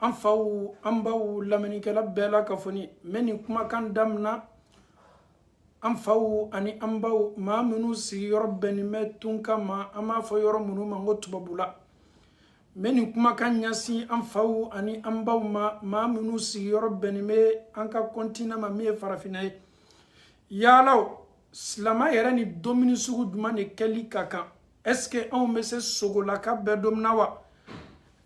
an faw an baw lamɛnnikɛla bɛɛ lakafoni n bɛ nin kumakan damina an faw ani an baw maa minnu sigiyɔrɔ bɛnnen bɛ tunkan ma an b'a fɔ yɔrɔ minnu ma ko tubabula n bɛ nin kumakan ɲɛsin an faw ani an baw ma maa minnu sigiyɔrɔ bɛnnen bɛ an ka kɔntinan ma min ye farafinna ye yala silama yɛrɛ ni domuni sugu jumɛn de kɛli ka kan est-ce que anw bɛ se sogolaka bɛɛ domuna wa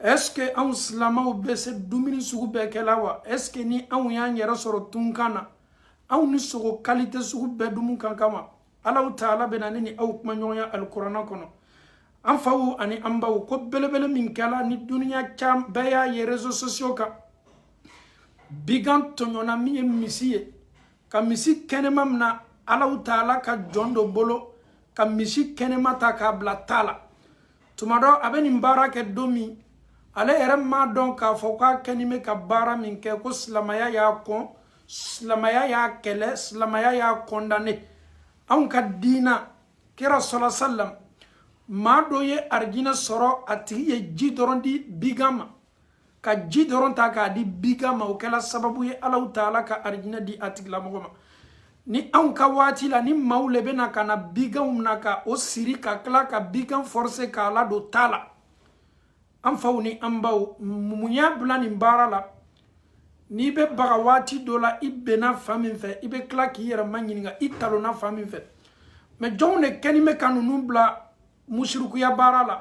est-ce que anw silamaw bɛ se dumuni sugu bɛɛ kɛla wa est-ce que ni anw y'an yɛrɛ sɔrɔ tunkan na anw ni sogo kalite sugu bɛɛ dumu ka kan wa allahu taala bɛna ne ni aw kumaɲɔgɔnya alikurana kɔnɔ an faw ani an baw ko belebele min kɛla ni duniya caman bɛɛ y'a ye réseaux sociaux kan bigan tɔɲɔna min ye misi ye ka misi kɛnɛma mina allahu taala ka jɔn dɔ bolo ka misi kɛnɛma ta k'a bila ta la tuma dɔ a bɛ nin baara kɛ don min ale yɛrɛ m'a dɔn k'a fɔ k'a kɛni bɛ ka baara min kɛ ko silamaya y'a kɔn silamaya y'a kɛlɛ silamaya y'a kɔndane anw ka diina kira sɔla salam maa dɔ ye arijinɛ sɔrɔ a tigi ye ji dɔrɔn di bigan ma ka ji dɔrɔn ta k'a di bigan ma o kɛla sababu ye allahu taala ka arijinɛ di a tigilamɔgɔ ma ni anw ka waati la ni maaw le bɛna ka na biganw na ka o siri ka tila ka bigan forse k'a ladon ta la an faw ni an baw mun y'a bila nin baara la n'i bɛ baga waati dɔ la i benna fan min fɛ i bɛ tila k'i yɛrɛ maɲininka i talonna fan min fɛ mɛ jɔnw de kɛni bɛ ka ninnu bila musirikuya baara la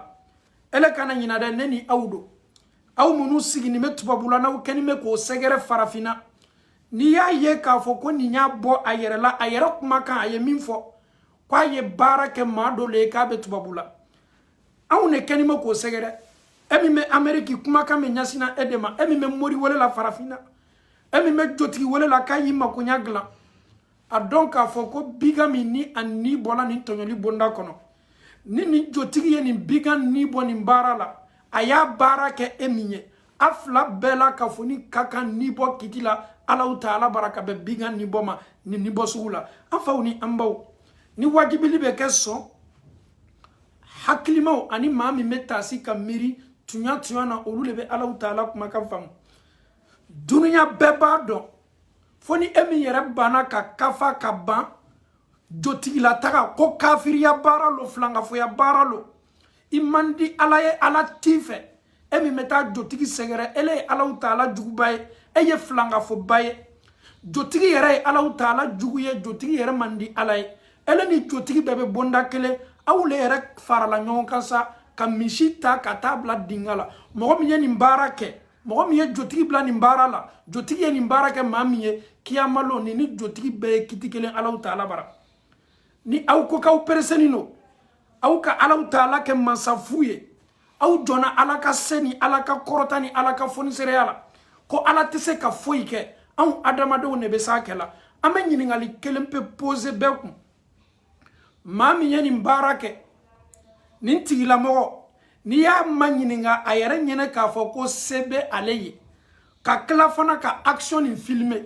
ele kana ɲina dɛ ne ni aw don aw minnu sigini bɛ tubabula n'aw kɛni bɛ k'o sɛgɛrɛ farafinna n'i y'a ye k'a fɔ ko nin y'a bɔ a yɛrɛ la a yɛrɛ kumakan a ye min fɔ ko a ye baara kɛ maa dɔ le ye k'a bɛ tubabula aw de kɛni bɛ k'o sɛgɛrɛ e min bɛ ameriki kumakan bɛ ɲɛsina e de ma e min bɛ mori wele la farafinna e min bɛ jotigi wele la k'a y'i makoɲa dilan a dɔn k'a fɔ ko bigan min ni a ni bɔla nin tɔɲɔli bonda kɔnɔ ni nin jotigi ye nin bigan ni bɔ nin baara la a y'a baara kɛ e min ye a fila bɛɛ lakafoni ka kan ni bɔ kiti la allahu taala bara ka bɛn bigan ni bɔ ma nin ni bɔ sugu la an faw ni an baw ni wajibili bɛ kɛ sɔn hakilimaw ani maa min bɛ taasi ka miiri tuɲa tuɲa na olu de bɛ allahu taala kumakan faamu dunuya bɛɛ b'a dɔn fo ni e min yɛrɛ banna ka kafa ka ban jotigila taga ko kafiriya baara lo filankafoya baara lo i man di ala ye ala t'i fɛ e min bɛ taa jotigi sɛgɛrɛ ele ye allahu taala juguba ye e ye filankafoba ye jotigi yɛrɛ ye allahu taala jugu ye jotigi yɛrɛ man di ala ye ele ni jotigi bɛɛ bɛ bonda kelen aw le yɛrɛ farala ɲɔgɔn kan sa ka misi ta ka taa bila dinga la mɔgɔ min ye nin baara kɛ mɔgɔ min ye jotigi bila nin baara la jotigi ye nin baara kɛ maa min ye kiyamalon ni ni jotigi bɛɛ ye kiti kelen alahu taala bara ni aw ko k'aw pereseni don aw ka alahu taala kɛ mansa fu ye aw jɔnna ala ka se ni ala ka kɔrɔta ni ala ka fonisereya la ko ala tɛ se ka foyi kɛ anw adamadenw de bɛ s'a kɛ la an bɛ ɲininkali kelen pe pose bɛɛ kun maa min ye nin baara kɛ nin tigilamɔgɔ n'i y'a maɲininka a yɛrɛ ɲɛnɛ k'a fɔ ko se bɛ ale ye ka tila fana ka action nin filime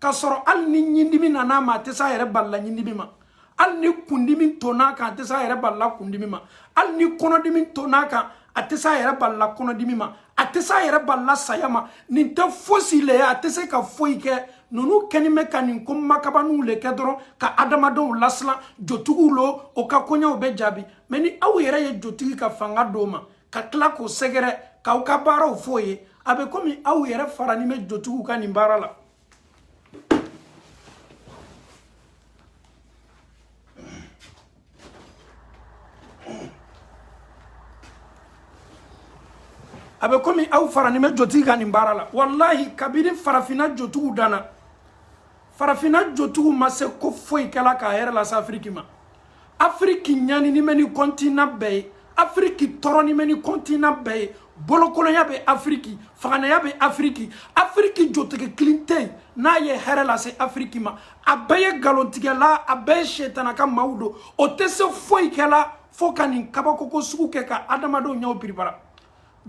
k'a sɔrɔ hali ni ɲindimi nana a ma a tɛ se a yɛrɛ balila ɲindimi ma hali ni kundimi tonn'a kan a tɛ se a yɛrɛ balila kundimi ma hali ni kɔnɔdimi tonn'a kan a tɛ se a yɛrɛ balila kɔnɔdimi ma a tɛ se a yɛrɛ balila saya ma nin tɛ fosi le ye a tɛ se ka foyi kɛ ninnu kɛni bɛ ka nin ko makabaninw le kɛ dɔrɔn ka adamadenw lasilan jotigiw lo o ka koɲɛw bɛ jaabi mɛ ni aw yɛrɛ ye jotigi ka fanga d'o ma ka tila k'o sɛgɛrɛ k'aw ka baaraw f'o ye a bɛ komi aw yɛrɛ farani bɛ jotigiw ka nin baara la a bɛ komi aw faranin bɛ jotigi ka nin baara la walahi kabini farafinna jotigiw danna farafinna jotigiw ma se ko foyi kɛla ka hɛrɛ lase afiriki ma afiriki ɲanini bɛ ni kɔntinan bɛɛ ye afiriki tɔɔrɔni bɛ ni kɔntinan bɛɛ ye bolokolonya bɛ afiriki faganaya bɛ afiriki afiriki jotigi kelen tɛ yen n'a ye hɛrɛ lase afiriki ma a bɛɛ ye nkalontigɛla a bɛɛ ye setana ka maaw don o tɛ se foyi kɛla fo ka nin kabakoko sugu kɛ ka adamadenw ɲɛw piripara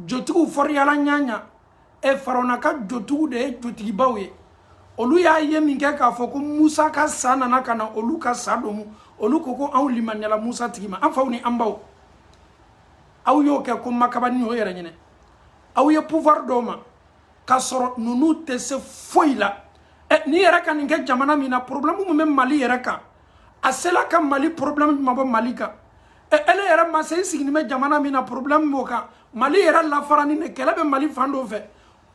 jotigiw fɔriyala ɲaɲa e farawuna ka jotigiw de ye jotigibaw ye olu y'a ye min kɛ k'a fɔ ko musa ka sa nana ka na olu ka sa domu olu ko ko anw limaniyala musa tigi ma an faw ni an baw aw y'o kɛ ko makabani o yɛrɛ ɲɛnɛ aw ye pouvoir d'o ma k'a sɔrɔ ninnu tɛ se foyi la ɛ nin yɛrɛ ka nin kɛ jamana min na problème min bɛ mali yɛrɛ kan a sela ka mali problème jumɛn bɔ mali kan ɛ ele yɛrɛ ma se i siginin bɛ jamana min na problème b'o kan mali yɛrɛ lafarani de kɛlɛ bɛ mali fan dɔ fɛ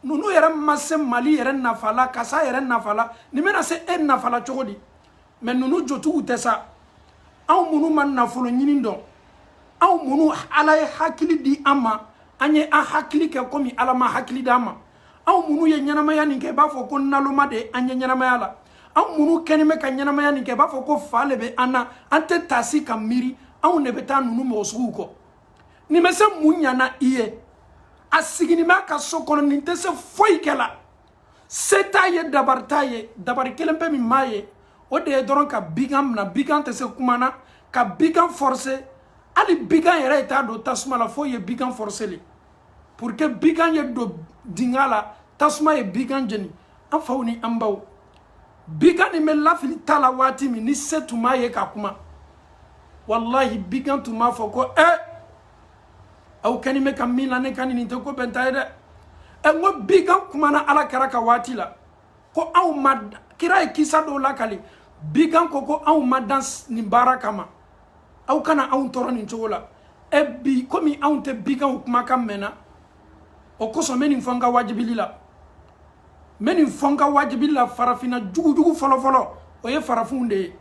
ninnu yɛrɛ ma se mali yɛrɛ nafa la ka s'a yɛrɛ nafa la nin bɛna se e nafa la cogo di mɛ ninnu jotigiw tɛ sa anw minnu ma nafolo ɲini dɔn anw minnu ala ye hakili di an ma an ye an hakili kɛ komi ala ma hakili d'an ma anw minnu ye ɲɛnamaya nin kɛ i b'a fɔ ko naloma de an ye ɲɛnamaya la anw minnu kɛni bɛ ka ɲɛnamaya nin kɛ i b'a fɔ ko fa le bɛ an na an tɛ taasi ka miiri anw de bɛ taa ninnu mɔgɔ suguw kɔ nin bɛ se mun ɲana i ye a siginin b'a ka so kɔnɔ nin tɛ se foyi kɛ la se t'a ye dabari t'a ye dabari kelen pe min m'a ye o de ye dɔrɔn ka bigan mina bigan tɛ se kuma na ka bigan forcer hali bigan yɛrɛ ye taa don tasuma la f'o ye bigan forcer le pour que bigan ye don dinga la tasuma ye bigan jeni an faw ni an baw bigan nin bɛ lafili ta la waati min ni se tun m'a ye ka kuma walahi bigan tun b'a fɔ ko eh aw kɛni bɛ ka min la ne kan nin tɛ ko bɛnta ye dɛ ɛ n ko bigan kumana ala kira ka waati la ko anw ma kira ye kisa dɔw lakali bigan ko ko anw ma dan nin baara kama aw kana anw tɔɔrɔ nin cogo la ɛ bi komi anw tɛ biganw kumakan mɛnna o kosɔn n bɛ nin fɔ n ka wajibili la n bɛ nin fɔ n ka wajibili la farafinna jugu jugu fɔlɔfɔlɔ o ye farafinw de ye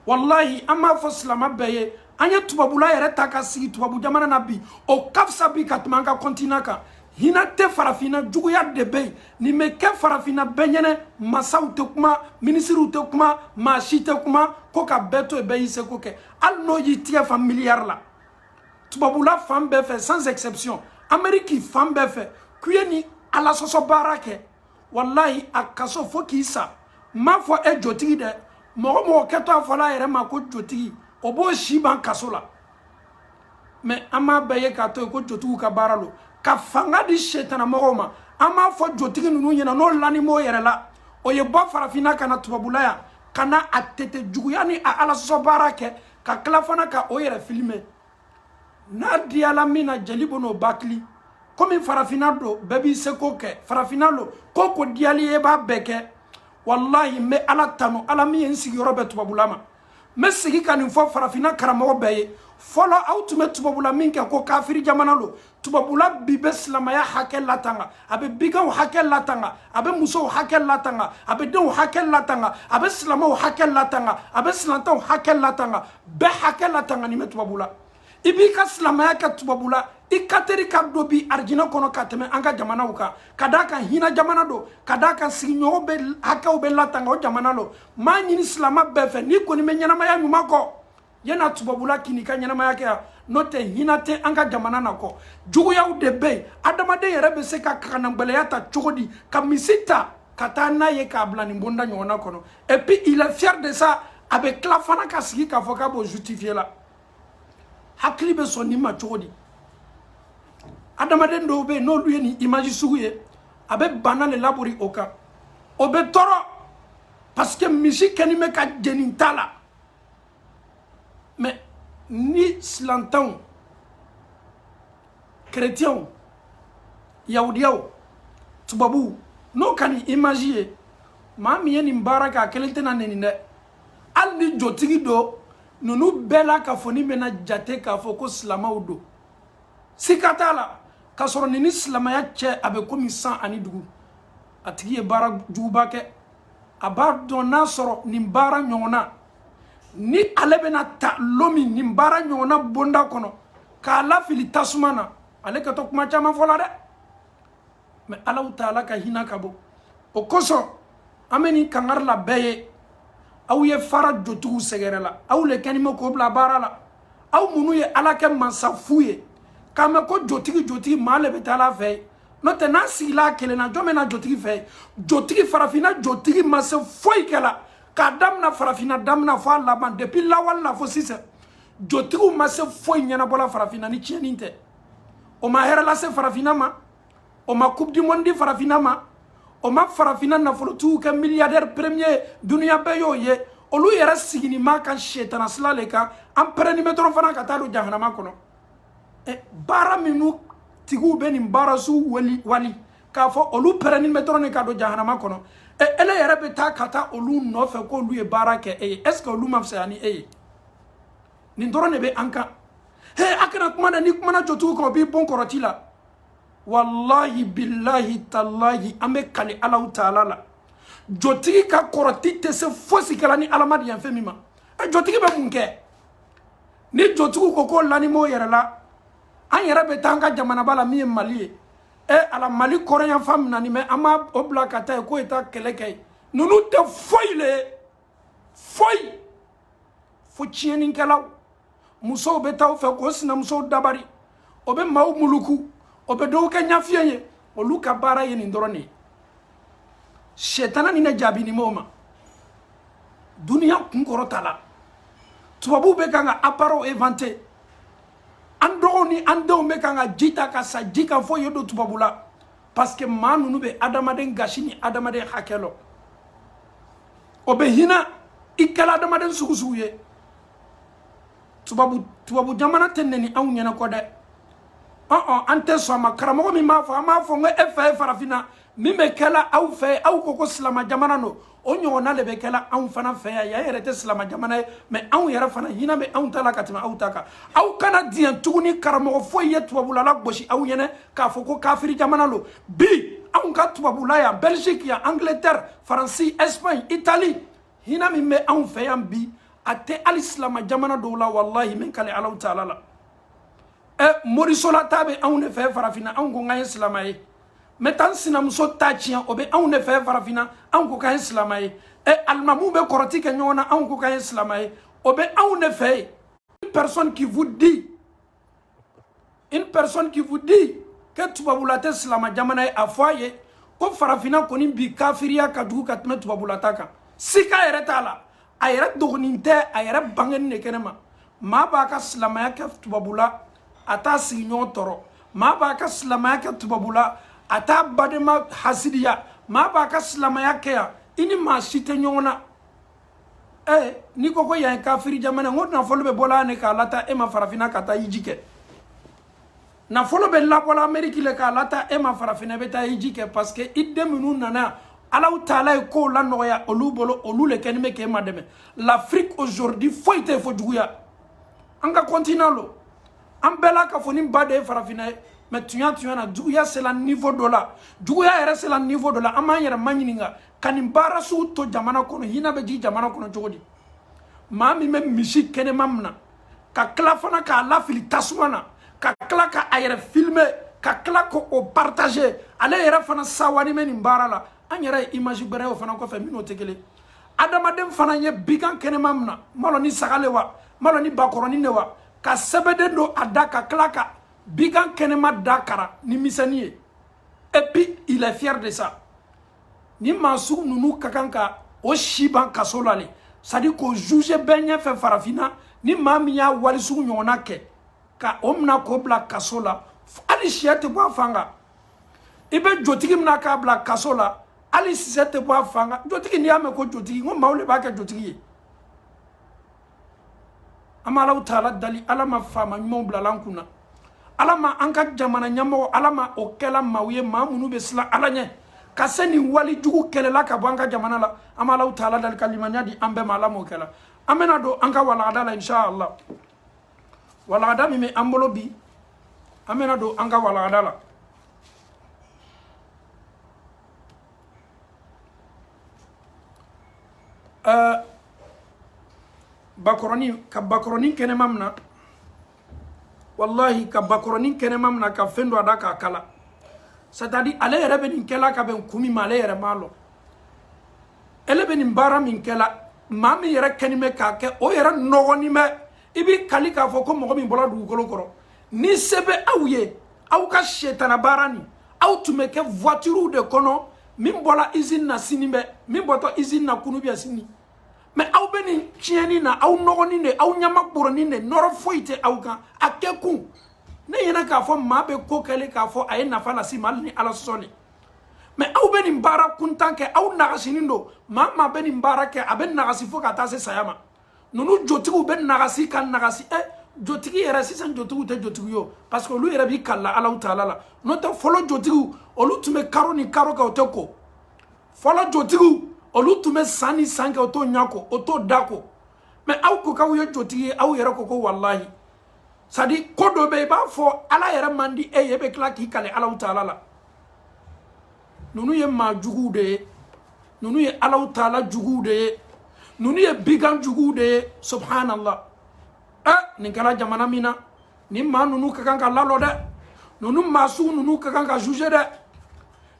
walahi an b'a fɔ silama bɛɛ ye an ye tubabula yɛrɛ taa ka sigi tubabu jamana na bi o ka fisa bi ka tɛmɛ an ka continent kan hinɛ tɛ farafinna juguya de bɛ yen nin bɛ kɛ farafinna bɛɛ ɲɛna masaw tɛ kuma minisiriw tɛ kuma maa si tɛ kuma ko ka bɛɛ to yen bɛɛ y'i seko kɛ hali n'o y'i tigɛ fa miliyari la tubabula fan bɛɛ fɛ sans exception ameriki fan bɛɛ fɛ k'u ye nin alasɔsɔ baara kɛ walayi a kaso fo k'i sa n m'a fɔ e jotigi dɛ mɔgɔ mɔgɔ kɛtɔ a fɔla a yɛrɛ ma ko jotigi o b'o si ban kaso la mais an b'a bɛɛ ye k'a to yen ko jotigiw ka baara lo ka fanga di setana mɔgɔw ma an b'a fɔ jotigi ninnu ɲɛna n'o lanin b'o yɛrɛ la o ye bɔ farafinna ka na tubabula yan ka na a tete juguya ni a alasɔsɔ baara kɛ ka tila fana ka o yɛrɛ filmer n'a diyala min na jeli bɛ n'o bakili komi farafinna lo bɛɛ b'i seko kɛ farafinna lo ko o ko diyal'i ye b'a bɛɛ kɛ walahi n bɛ ala tanu ala min ye n sigiyɔrɔ bɛn tubabula ma n bɛ segin ka nin fɔ farafinna karamɔgɔ bɛɛ ye fɔlɔ aw tun bɛ tubabula min kɛ ko kafiri jamana lo tubabula bi bɛ silamaya hakɛ latanga a bɛ biganw hakɛ latanga a bɛ musow hakɛ latanga a bɛ denw hakɛ latanga a bɛ silamaw hakɛ latanga a bɛ silantanw hakɛ latanga bɛɛ hakɛ latanganin bɛ tubabula i b'i ka silamaya kɛ tubabula i ka teri ka don bi arijinɛ kɔnɔ ka tɛmɛ an ka jamanaw kan ka d'a kan hinɛ jamana don ka d'a kan sigiɲɔgɔn bɛ hakɛw bɛ latanga o jamana lo n b'a ɲini silama bɛɛ fɛ n'i kɔni bɛ ɲɛnamaya ɲuman kɔ ye na tubabula ka n'i ka ɲɛnamaya kɛ yan n'o tɛ hinɛ tɛ an ka jamana na kojuguyaw de bɛ yen adamaden yɛrɛ bɛ se ka kaanagɛlɛya ta cogo di ka misi ta ka taa n'a ye k'a bila nin bonda ɲɔgɔnna kɔnɔ et puis il est fier de ça a bɛ tila fana ka sigi k'a fɔ k'a b'o justifier la hakili bɛ sɔn nin ma cogo di adamaden dɔw bɛ yen n'olu ye nin image sugu ye a bɛ bana de labori o kan o bɛ tɔɔrɔ parce que misi kɛni bɛ ka jeni ta la mɛ ni silantanw kerecɛnw yahudiyaw tubabuw n'o ka nin imaji ye maa min ye nin baara kɛ a kelen tɛna neni dɛ hali ni jotigi don ninnu bɛɛ lakafonin bɛna jate k'a fɔ ko silamaw don sika t'a la k'a sɔrɔ nin ni silamaya cɛ a bɛ komi san ani dugu a tigi ye baara juguba kɛ a b'a dɔn n'a sɔrɔ nin baara ɲɔgɔnna ni ale bɛna ta lon min nin baara ɲɔgɔnna bonda kɔnɔ k'a lafili tasuma na ale kɛtɔ kuma caman fɔ la dɛ mɛ alahu taala ka hinɛ ka bon o kosɔn an bɛ nin kangari la bɛɛ ye aw ye fara jotigiw sɛgɛrɛ la aw le kɛni bɛ k'o bila baara la aw minnu ye ala kɛ mansa fu ye k'a mɛn ko jotigi jotigi maa le bɛ taala a fɛ n'o tɛ n'a sigila a kelen na jɔn bɛ na jotigi fɛ jotigi farafinna jotigi ma se foyi kɛ la k'a damina farafinna damina fo a laban depuis lawale la fo sisan jotigiw ma se foyi ɲɛnabɔla farafinna ni tiɲɛni tɛ o ma hɛrɛ lase farafinna ma o ma coupe du monde di farafinna ma o ma farafinna nafolotigiw kɛ milliardaire premier duniya bɛɛ y'o ye olu yɛrɛ siginin b'a kan setanasila le kan an pɛrɛni bɛ dɔrɔn fana ka taa don jahanama kɔnɔ baara minnu tigiw bɛ nin baarasuw wali wali k'a fɔ olu pɛrɛnni bɛ dɔrɔn de ka don jahanama kɔnɔ ele yɛrɛ bɛ taa ka taa olu nɔfɛ k'olu ye baara kɛ e ye est ce que olu ma fisaya ni e ye nin dɔrɔn de bɛ an kan he a kana kuma dɛ n'i kumana jotigi kan o b'i bon kɔrɔti la walahi bilahi talahi an bɛ kali alahu taala la jotigi ka kɔrɔti tɛ se fosi kɛla ni ala ma diɲɛ fɛn min ma jotigi bɛ mun kɛ ni jotigiw ko ko lanin b'o yɛrɛ la an yɛrɛ bɛ taa an ka jamanaba la min ye mali ye e ala mali kɔrɔnyanfan minanin bɛ an b'o bila ka taa ye k'o ye taa kɛlɛ kɛ ye ninnu tɛ foyi le ye foyi fo tiɲɛnikɛlaw musow bɛ taa u fɛ k'o sinamusow dabari o bɛ maaw muluku o bɛ dɔw kɛ ɲafiyen ye olu ka baara ye nin dɔrɔn de ye sɛtana ni ne jaabinin b'o ma duniya kun kɔrɔtala tubabuw bɛ kan ka appareil inventer an dɔgɔw ni an denw bɛ kan ka ji ta ka sa ji kan fo ye don tubabu la parce que maa ninnu bɛ adamaden gasi ni adamaden hakɛ lɔn o bɛ hinɛ i kɛla adamaden sugu sugu ye tubabu tubabu jamana tɛ nɛni anw ɲɛna kɔ dɛ ɔn an tɛ sɔn a ma karamɔgɔ min b'a fɔ an b'a fɔ n ko e fɛ ye farafinna min bɛ kɛla aw fɛ aw ko ko silama jamana don o ɲɔgɔnna de bɛ kɛla anw fana fɛ yan yan yɛrɛ tɛ silama jamana ye mɛ anw yɛrɛ fana hinɛ bɛ anw ta la ka tɛmɛ aw ta kan aw kana diɲɛ tuguni karamɔgɔ foyi ye tubabula lagosi aw ɲɛna k'a fɔ ko kafiri jamana don bi anw ka tubabula yan belgique yan angleterre faransi espagne italie hina min bɛ anw fɛ yan bi a tɛ hali silama jamana dɔw la walahi n bɛ n kale alahu taala la ɛ eh, morisola taa bɛ anw ne fɛ farafinna anw ko k'an ye silama ye n bɛ taa n sinamuso ta tiɲɛ o bɛ anw ne fɛ farafinna anw ko k'an ye silama ye ɛ eh, alimamuw bɛ kɔrɔti kɛ ɲɔgɔn na anw ko k'an ye silama ye o bɛ anw ne fɛ une personne qui vous dit une personne qui vous dit que tubabula tɛ silama jamana ye a fɔ a ye ko farafinna kɔni bi kafiriya ka jugu ka tɛmɛ tubabula ta kan sika yɛrɛ t'a la a yɛrɛ dogonin tɛ a yɛrɛ bangenin ne kɛnɛ ma maa b'a ka silamaya kɛ tubabula a t'a sigiɲɔgɔn tɔɔrɔ maa b'a ka silamaya kɛ tubabula a t'a badenma hasidiya maa b'a ka silamaya kɛ yan i ni maa si tɛ ɲɔgɔn na eh n'i ko ko yan ye kafiri jamana n ko nafolo bɛ bɔla ne k'a lataa e ma farafinna ka taa hiji kɛ nafolo bɛ labɔla ameriki le k'a lataa e ma farafinna bɛ taa hiji kɛ parce que i den minnu nana alahu taala ye kow la nɔgɔya olu bolo olu le kɛnin bɛ k'e madɛmɛ l'afrique aujourd'hui foyi tɛ fo juguya an ka continent lo an bɛɛ lakafonin ba de ye farafinna ye mais tuɲa tuɲa na juguya sela niveau dɔ la juguya yɛrɛ sela niveau dɔ la an b'an yɛrɛ maɲininka ka nin baara sugu to jamana kɔnɔ hina bɛ jigin jamana kɔnɔ cogo di maa min bɛ misi kɛnɛma mina ka tila fana k'a lafili tasuma na ka tila ka a yɛrɛ filmer ka tila ka o partager ale yɛrɛ fana sawanin bɛ nin baara la an yɛrɛ ye image gwɛrɛ ye o fana kɔfɛ min n'o tɛ kelen adamaden fana ye bigan kɛnɛma mina n m'a lɔn ni saga le wa n m'a lɔn ni bakɔrɔnin le wa ka sɛbɛden don a da ka tila ka bigan kɛnɛma da kara ni miseni ye et puis il est fier de ça ni maa sugu ninnu ka kan ka o si ban kaso la le c'est-à-dire k'o juger bɛɛ ɲɛfɛ farafinna ni maa min y'a wali sugu ɲɔgɔnna kɛ ka o mina k'o bila kaso la hali siyɛ tɛ bɔ a fan kan i bɛ jotigi mina k'a bila kaso la hali sisɛ tɛ bɔ a fan kan jotigi n'i y'a mɛn ko jotigi n ko maaw le b'a kɛ jotigi ye an b'alahu taala dali ala ma faama ɲumanw bilala an kun na ala ma an ka jamana ɲɛmɔgɔ ala ma o kɛla maaw ye maa minnu bɛ silan ala ɲɛ ka se nin wali jugu kɛlɛla ka bɔ an ka jamana la an b'alahu taala dali ka limaniya di an bɛɛ ma ala m'o kɛla an bɛna don an ka walagada la inshallah walagada min bɛ an bolo bi an bɛna don an ka walagada la ɛɛ bakɔrɔnin ka bakɔrɔnin kɛnɛma mina walahi ka bakɔrɔnin kɛnɛma mina ka fɛn don a da k'a kala c'est-à-dire ale yɛrɛ bɛ nin kɛla ka bɛn kun min ma ale yɛrɛ m'a lɔn ale bɛ nin baara min kɛla maa min yɛrɛ kɛnin bɛ k'a kɛ o yɛrɛ nɔgɔnin bɛ i b'i kali k'a fɔ ko mɔgɔ min bɔla dugukolo kɔrɔ ni se bɛ aw ye aw ka setana baara nin aw tun bɛ kɛ voituriw de kɔnɔ min bɔra usine na sini bɛ min bɔtɔ usine na kunu bɛ sini mais aw bɛ nin tiɲɛni na aw nɔgɔnin de aw ɲaman bɔrɔnin de nɔrɔ foyi tɛ aw kan a kɛ kun ne ɲɛna k'a fɔ maa bɛ ko kɛ le k'a fɔ a ye nafa lase i ma hali ni ala sɔsɔli mais aw bɛ nin baara kuntan kɛ aw nagasinin don maa maa bɛ nin baara kɛ a bɛ nagasi fo ka taa se saya ma ninnu jotigiw bɛ nagasi ka nagasi ɛ eh, jotigi yɛrɛ sisan jotigiw tɛ jotigi ye parce que olu yɛrɛ b'i kalila alahu taala la n'o tɛ fɔlɔ jotigiw olu tun bɛ karo ni karo kɛ o tɛ ko fɔlɔ jotigiw olu tun bɛ san ni san kɛ o t'o ɲɛ ko o t'o da ko mais aw ko k'aw ye jotigi ye aw yɛrɛ ko ko walahi c'est-à-dire ko dɔ bɛ i b'a fɔ ala yɛrɛ man di e ye e bɛ tila k'i kali alahu taala la ninnu ye maa juguw de ye ninnu ye alahu taala juguw de ye ninnu ye bigan juguw de ye subhanallah ɛ eh, nin kɛra jamana min na nin maa ninnu ka kan ka lalɔ dɛ ninnu maa sugu ninnu ka kan ka jugé dɛ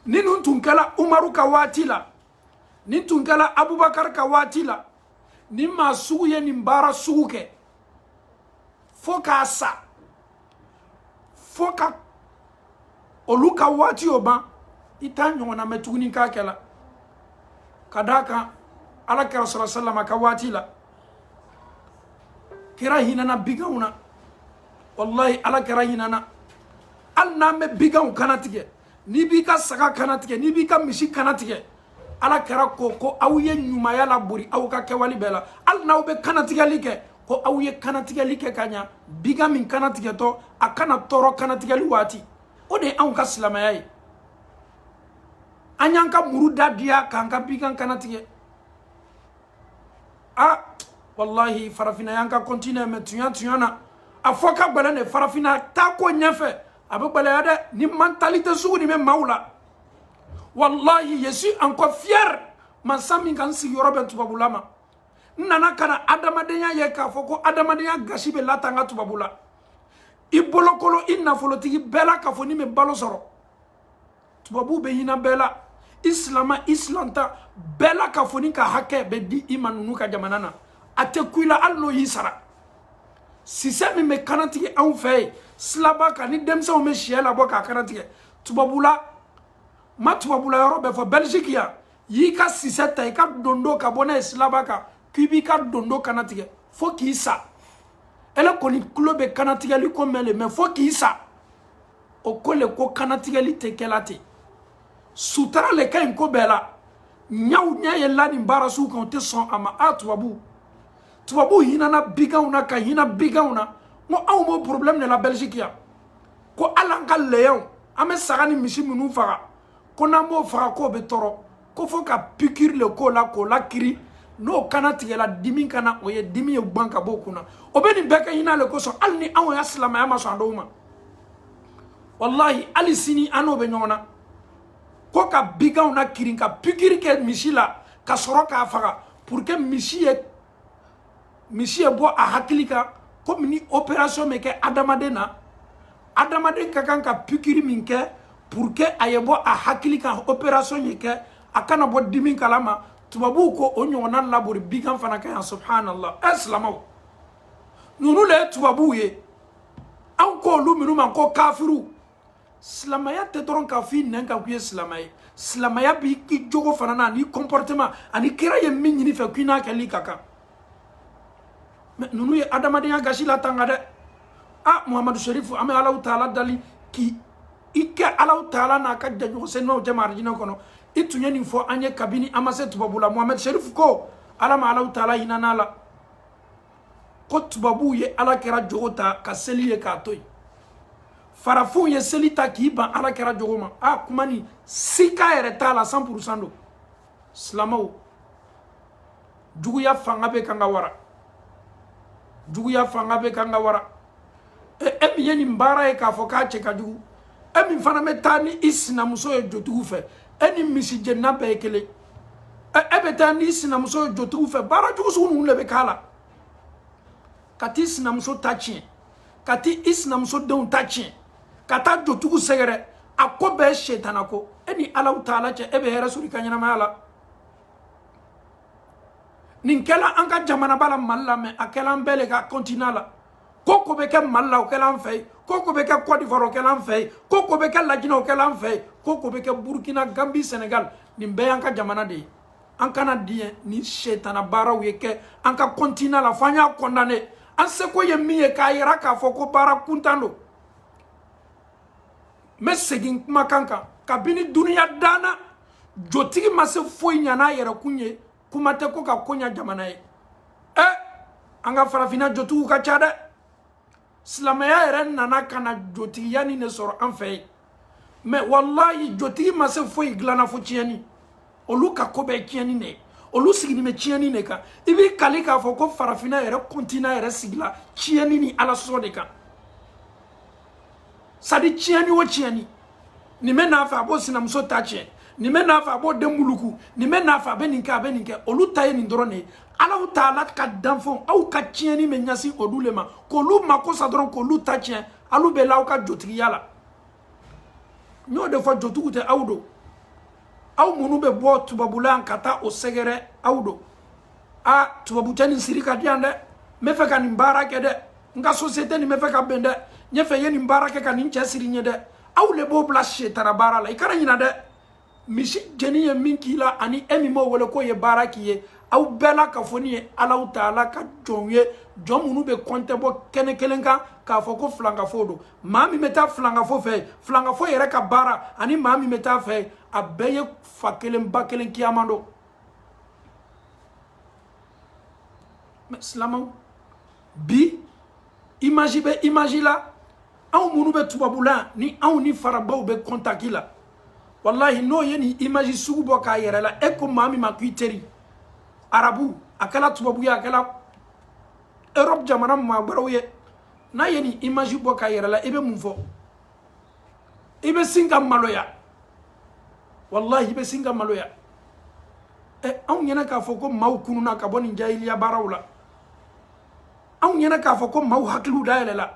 ni nin tun kɛra umaru ka waati la ni tun kɛra abubakar ka waati la nin maa sugu ye nin baara sugu kɛ fo ka sa fo ka olu ka waati o ban i t'a ɲɔgɔnna mɛn tuguni k'a kɛla ka d'a kan ala kira sallallahu alaihi wasallam ka waati la kira hinɛna biganw na walahi ala kira hinɛna hali n'an bɛ biganw kanatigɛ n'i b'i ka saga kanatigɛ n'i b'i ka misi kanatigɛ ala kira ko ko aw ye ɲumaya labori aw ka kɛwale bɛɛ la hali n'aw bɛ kanatigɛli kɛ ko aw ye kanatigɛli kɛ ka ɲa bigan min kanatigɛtɔ a kana tɔɔrɔ kanatigɛli waati o de ye anw ka silamɛya ye an y'an ka muru da diya k'an ka bigan kanatigɛ a walahi farafinna y'an ka continent mais tuɲa tuɲa na a fɔ ka gbɛlɛn de farafinna taa ko ɲɛfɛ a bɛ gbɛlɛya dɛ ni mentalité sugu nin bɛ maaw la walahi je suis encore fier mansa min ka n sigiyɔrɔ bɛn tubabula ma n nana ka na adamadenya ye k'a fɔ ko adamadenya gasi bɛ latanga tubabula i bolokolo i nafolotigi bɛɛ la k'a fɔ n'i bɛ balo sɔrɔ tubabuw bɛ hinɛ bɛɛ la i silama i silanta bɛɛ la k'a fɔ n'i ka hakɛ bɛ di i ma ninnu ka jamana na a tɛ ku i la hali n'o y'i sara sisɛ min bɛ kanatigɛ anw fɛ yen silaba kan ni denmisɛnw bɛ siyɛ labɔ k'a kanatigɛ tubabula ma tubabula yɔrɔ bɛɛ fɔ belgique yan y'i ka sisɛ ta i ka dondo ka bɔ n'a ye silaba kan k'i b'i ka dondo kana tigɛ fo k'i sa ele kɔni tulo bɛ kanatigɛli ko mɛn le mais fo k'i sa o ko le ko kanatigɛli tɛ kɛla ten sutara le ka ɲi ko bɛɛ la ɲaw ɲɛ ye la nin baara sugu kan o tɛ sɔn a ma a tubabu tubabu hinana biganw na ka hina biganw na n ko anw b'o problème le la belgique yan ko hali an ka layaw an bɛ saga ni misi minnu faga ko n'an b'o faga k'o bɛ tɔɔrɔ ko fo ka pikiri le k'o la k'o lakirin n'o kana tigɛla dimi kana o ye dimi ye gban ka b'o kun na o bɛ nin bɛɛ kɛ hina le kosɔn hali ni anw ya silamaya ma sɔn a dɔw ma walahi hali sini an n'o bɛ ɲɔgɔn na ko ka biganw nakirin ka pikiri kɛ misi la ka sɔrɔ k'a faga pour que misi ye misi ye bɔ a hakili kan komi ni opération bɛ kɛ adamaden na adamaden ka kan ka pikiri min kɛ pour que a ye bɔ a hakili kan opération ye kɛ a kana bɔ dimi kalama tubabuw ko o ɲɔgɔnna labori bigan fana kan yan subhanallah ɛ silamaw ninnu le ye tubabuw ye anw k'olu minnu ma ko kafiriw silamaya tɛ dɔrɔn k'a fɔ i nɛn kan k'i ye silamɛ ye silamaya b'i jogo fana na ani comportement ani kira ye min ɲini i fɛ k'i n'a kɛli ka kan mais ninnu ye adamadenya gasi latanga dɛ a muhamadu serifu an bɛ alahu taala dali k'i i kɛ alahu taala n'a ka jɛɲɔgɔn senimaw cɛma arijinɛ kɔnɔ i tun ye nin fɔ an ye kabini an ma se tubabu la muhamadu serifu ko ala ma alahu taala hinana a la ko tubabuw ye ala kira jogo ta ka seli ye k'a to yen farafinw ye seli ta k'i ban ala kira jogo ma a kuma ni sika yɛrɛ t'a la san purusan don silamaw juguya fanga bɛ kan ka wara juguya fanga bɛ kan ka wara e min ye nin baara ye k'a fɔ k'a cɛ ka jugu e min fana bɛ taa ni i sinamuso ye jotigiw fɛ e ni misijenna bɛɛ ye kelen e bɛ taa n'i sinamuso ye jotigiw fɛ baara jugu sugu ninnu de bɛ k'a la ka t'i sinamuso ta tiɲɛ ka t'i sinamuso denw ta tiɲɛ ka taa jotigiw sɛgɛrɛ a ko bɛɛ setana ko e ni alahu taala cɛ e bɛ hɛrɛ sɔrɔ i ka ɲɛnamaya la nin kɛla an ka jamanaba la mali la mais a kɛla an bɛɛ le ka kɔntina la ko o ko bɛ kɛ mali la o kɛla an fɛ yen ko o ko bɛ kɛ kɔdivuwari o kɛla an fɛ yen ko o ko bɛ kɛ lajinɛ o kɛla an fɛ yen ko o ko bɛ kɛ burukina gambi senegal nin bɛɛ y'an ka jamana de ye an kana diɲɛ ni setana baaraw ye kɛ an ka kɔntina la fo an y'a kɔndane an seko ye min ye k'a yira k'a fɔ ko baara kuntan don n bɛ segin kumakan kan kabini duniya danna jotigi ma se foyi ɲa n'a yɛrɛkun ye kuma tɛ ko ka ko ɲa jamana ye ɛ an ka farafinna jotigiw ka ca dɛ silamɛya yɛrɛ nana ka na jotigiya nin de sɔrɔ an fɛ yen mɛ walayi jotigi ma se foyi dilanna fo tiɲɛni olu ka ko bɛɛ tiɲɛni de ye olu sigilen bɛ tiɲɛni de kan i b'i kali k'a fɔ ko farafinna yɛrɛ kɔntinan yɛrɛ sigila tiɲɛni ni ala sɔsɔ de kan sadi tiɲɛni o tiɲɛni nin bɛ n'a fɛ a b'o sinamuso ta tiɲɛ nin bɛ n'a fɛ a b'o den muluku nin bɛ n'a fɛ a bɛ nin kɛ a bɛ nin kɛ olu ta ye nin dɔrɔn de ye alaw taala ka danfɛnw aw ka tiɲɛni bɛ ɲɛsin olu le ma k'olu mako sa dɔrɔn k'olu ta tiɲɛ alu bɛ la aw ka jotigiya la n y'o de fɔ jotigiw tɛ aw don aw minnu bɛ bɔ tubabula ka taa o sɛgɛrɛ aw don a tubabu cɛ nin siri k'a di yan dɛ n bɛ fɛ ka nin baara kɛ dɛ n ka sosiyete nin bɛ fɛ ka bɛn dɛ n y'a fɛ i ye nin baara kɛ ka nin cɛ siri n ye dɛ aw le b'o bila setana baara la i kana ɲina dɛ misi jeni ye min k'i la ani e min b'o wele k'o ye baara k'i ye aw bɛɛ lakafonin ye alaw taala ka jɔnw ye jɔn minnu bɛ kɔntɛ bɔ kɛnɛ kelen kan k'a fɔ ko filankafo don maa min bɛ taa filankafo fɛ filankafo yɛrɛ ka baara ani maa min bɛ taa a fɛ a bɛɛ ye fa kelen ba kelen kiyama don mɛ silamaw bi imaji bɛ imaji la anw minnu bɛ tubabula ni anw ni faragwɛw bɛ kɔntaki la walahi n'o ye nin imaji sugu bɔ k'a yɛrɛ la e ko maa min ma ko i teri arabu a kɛra tubabu ye a kɛra europe jamana maa wɛrɛw ye n'a ye nin imaji bɔ k'a yɛrɛ la i bɛ mun fɔ i bɛ sin ka maloya walahi i bɛ sin ka maloya ɛ eh, anw ɲɛna k'a fɔ ko maaw kununa ka bɔ nin jahiliya baaraw la anw ɲɛna k'a fɔ ko maaw hakiliw dayɛlɛla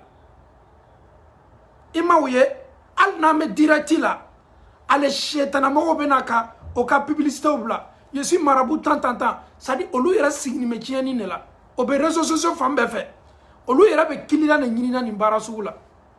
i m'a ye hali n'an bɛ dirɛkiti la ale setanamɔgɔw bɛ na ka o ka pibilisitew bila je suis marabout tan tan tan sadi olu yɛrɛ sigilen bɛ tiɲɛni de la o bɛ rezo sosiyo fan bɛɛ fɛ olu yɛrɛ bɛ kiliyan de ɲinina nin baara sugu la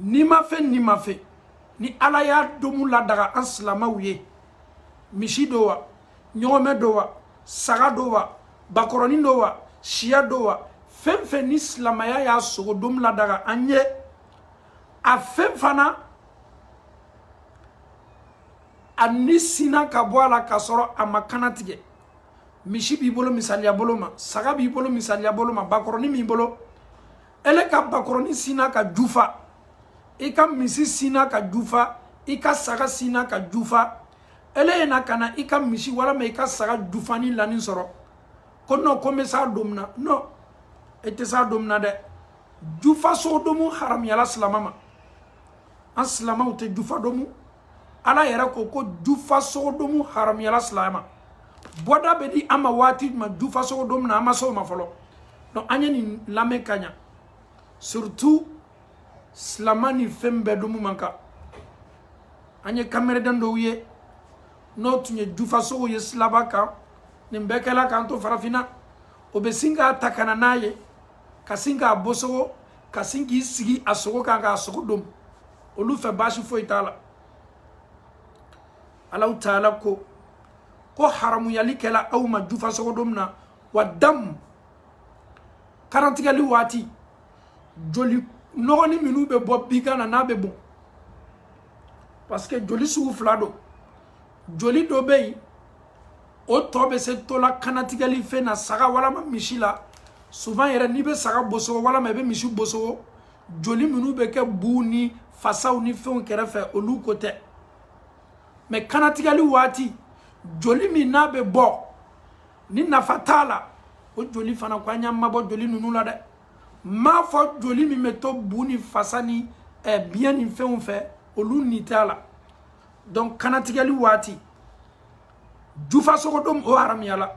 nimafɛn nimafɛn ni ala y'a domu ladaga an silamɛw ye misi don wa ɲɔgɔmɛ don wa saga don wa bakɔrɔnin don wa syɛ don wa fɛn fɛn ni silamɛya y'a sogo domu ladaga an ye a fɛn fana a ni sinna ka bɔ a la k'a sɔrɔ a ma kannatigɛ misi b'i bolo misaliya bolo ma saga b'i bolo misaliya bolo ma bakɔrɔnin b'i bolo ele ka bakɔrɔnin sinna ka jufa i ka misi sinna ka jufa i ka saga sinna ka jufa ele ye na ka na i ka misi walama i ka saga jufanin lanin sɔrɔ ko nɔ ko n bɛ s'a domu na nɔ e tɛ s'a domu na dɛ jufa sogo domu haramuyala silama ma an silamaw tɛ jufa domu ala yɛrɛ ko ko jufa sogodomu haramuyala silamɛ ma bɔda bɛ di an ma waati jumɛn jufa sogodomu na an ma se o ma fɔlɔ donc an ye nin lamɛn ka ɲa surtout silamɛ ni fɛn bɛɛ domu man kan an ye kamereden dɔw ye n'o tun ye jufa sogo ye silaba kan nin bɛɛ kɛla k'an to farafinna o bɛ sin k'a ta ka na n'a ye ka sin k'a bosogo ka sin k'i sigi a sogo kan k'a sogo domu olu fɛ baasi foyi t'a la alahu taala ko ko haramuyali kɛla aw ma jufa sogodomu na wa damu kanatigɛli waati joli nɔgɔni minnu bɛ bɔ bigan na n'a bɛ bɔn parce que joli sugu fila don joli dɔ bɛ yen o tɔ bɛ se to la kanatigɛli fɛn na saga walama misi la souvent yɛrɛ n'i bɛ saga bosogo walama i bɛ misi bosogo joli minnu bɛ kɛ buw ni fasaw ni fɛnw kɛrɛfɛ olu ko tɛ mais kanatigɛli waati joli min n'a bɛ bɔ ni nafa t'a la o joli fana ko an y'an mabɔ joli ninnu la dɛ m'a fɔ joli min bɛ to bu ni fasa ni eh, biɲɛ ni fɛnw fɛ olu ni t'a la donc kanatigɛli waati jufa sogo domu o haramuyala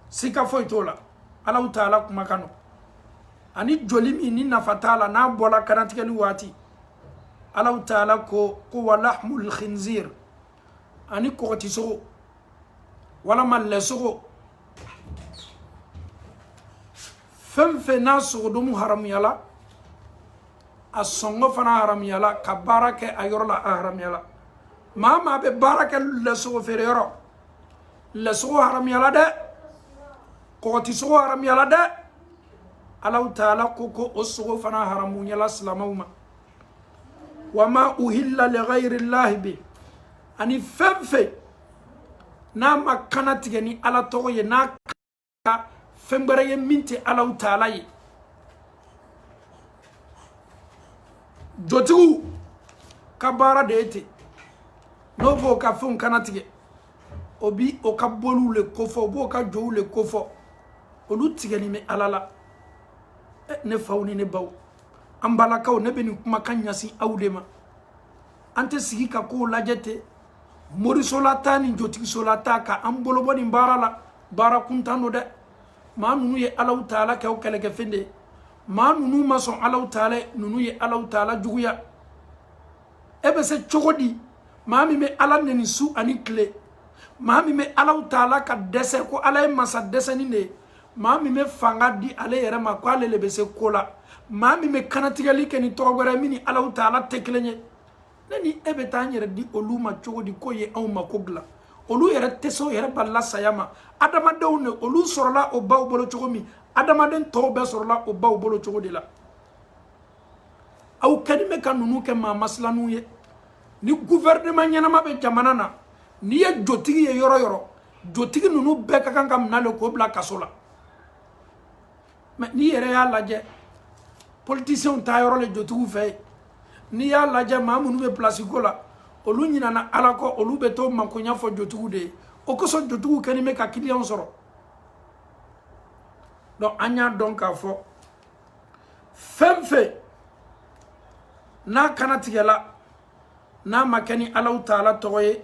sika foyi t'o la alahu taala kumakan nɔ ani joli min ni nafa t'a la n'a bɔla kanatigɛli waati alahu taala ko ko wa lahmul khinzir ani kɔgɔti sogo walama lɛ sogo fɛn fɛn n'a sogodomu haramuyala a sɔngɔ fana haramuyala ka baara kɛ a yɔrɔ la a haramuyala maa maa bɛ baara kɛ lɛsogo feere yɔrɔ lɛsogo haramuyala dɛ kɔgɔti sogo haramuyala dɛ alahu taala ko ko o sogo fana haramuyala silamɛw ma wa ma uhilla li ghayri llahi bi ani fɛn fɛn n'a ma kana tigɛ ni ala tɔgɔ ye n'a fɛn wɛrɛ ye min tɛ alahu taala ye jotigiw ka baara de ye ten n'o b'o ka fɛnw kana tigɛ o bi o ka boliw le kofɔ o b'o ka jow le kofɔ olu tigɛni bɛ ala la eh, ne faw ni ne baw an balakaw ne bɛ nin kumakan ɲɛsin aw de ma an tɛ sigi ka kow lajɛ ten moriso la taa ni jotigiso la taa ka an bolo bɔ nin baara la baara kuntan don dɛ maa ninnu ye alahu taala kɛ o kɛlɛkɛfɛn de ye maa ninnu ma sɔn alahu taala ye ninnu ye alahu taala juguya e bɛ se cogo di maa min bɛ ala nɛni su ani tile maa min bɛ alahu taala ka dɛsɛ ko ala ye masa dɛsɛni de ye maa min bɛ fanga di ale yɛrɛ ma ko ale le bɛ se ko la maa min bɛ kanatigɛli kɛ ni tɔgɔ wɛrɛ min ni alahu taala tɛ kelen ye ne ni e bɛ taa an yɛrɛ di olu ma cogo di k'o ye anw mako dilan olu yɛrɛ tɛ se o yɛrɛ balila saya ma adamadenw de olu sɔrɔla o baw bolo cogo min adamaden tɔw bɛɛ sɔrɔla o baw bolo cogo de la aw kɛlen bɛ ka ninnu kɛ maa masilaninw ye ni guvɛrɛneman ɲɛnama bɛ jamana na n'i ye jotigi ye yɔrɔ yɔrɔ jotigi ninnu bɛɛ ka kan ka minɛ le k'o bila kaso la mɛ n'i yɛrɛ y'a lajɛ politisiyɛnw taa yɔrɔ le jotigiw fɛ yen n'i y'a lajɛ maa minnu bɛ pilasi ko la olu ɲinana ala kɔ olu bɛ t'o makoya fɔ jotigiw de ye o kosɔn jotigiw kɛlen bɛ ka kiliyɛnw sɔrɔ donc an y'a dɔn k'a fɔ fɛn fɛn n'a kannatigɛla n'a ma kɛ ni alahu taala tɔgɔ ye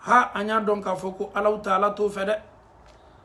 ha an y'a dɔn k'a fɔ ko alahu taala t'o fɛ dɛ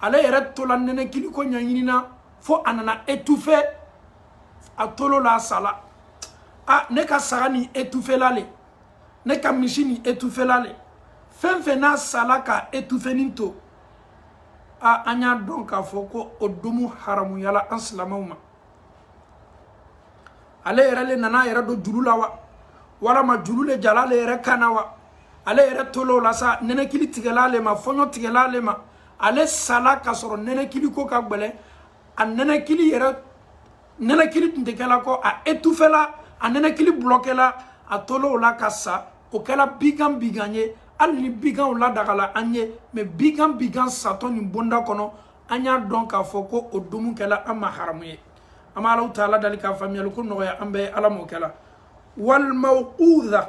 ale yɛrɛ tola nɛnɛkili ko ɲɛɲini na fo a nana etufe a tol'o la a sala a ne ka saga nin etufela le ne ka misi nin etufela le fɛn fɛn n'a sala k'a etufenin to a an y'a dɔn k'a fɔ ko o domu haramuyala an silamɛw ma ale yɛrɛ le nana a yɛrɛ don juru la wa walama juru le jala ale yɛrɛ kan na wa ale yɛrɛ tol'o la sa nɛnɛkili tigɛla ale ma fɔɲɔ tigɛla ale ma ale sala ka sɔrɔ nɛnɛkili ko ka gbɛlɛ a nɛnɛkili yɛrɛ nɛnɛkili tun tɛ kɛla kɔ a etufela a nɛnɛkili bulɔkɛla a tol'o la ka sa o kɛla bigan bigan ye hali ni biganw ladagala an ye mɛ bigan bigan satɔ nin bonda kɔnɔ an y'a dɔn k'a fɔ ko o domu kɛla an ma haramu ye an bɛ alahu taala dali k'a faamuyali ko nɔgɔya an bɛɛ ala m'o kɛla walmawquda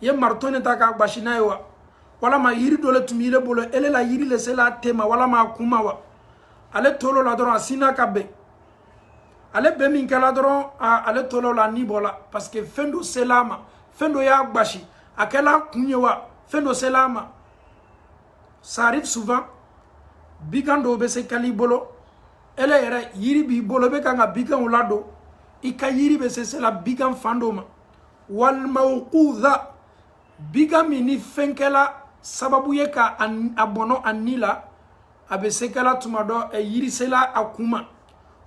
i ye marito ne ta k'a gbasi n'a ye wa walama yiri dɔ le tun b'i le bolo ele la yiri le sela a ten ma walama a kun ma wa ale tol'o la dɔrɔn a sina ka ben ale ben min kɛla dɔrɔn ale tol'o la ni bɔla parce que fɛn dɔ sela a ma fɛn dɔ y'a gbasi a kɛla kun ye wa fɛn dɔ sela a ma ça arrive souvent bigan dɔw bɛ se kɛl'i bolo ele yɛrɛ yiri b'i bolo i bɛ kan ka biganw ladon i ka yiri bɛ se sela bigan fan dɔ ma walmawquda bigan min ni fɛn kɛla sababu ye ka a bɔnɔ a ni la a bɛ se kɛla tuma dɔ eh, yiri sela a kun ma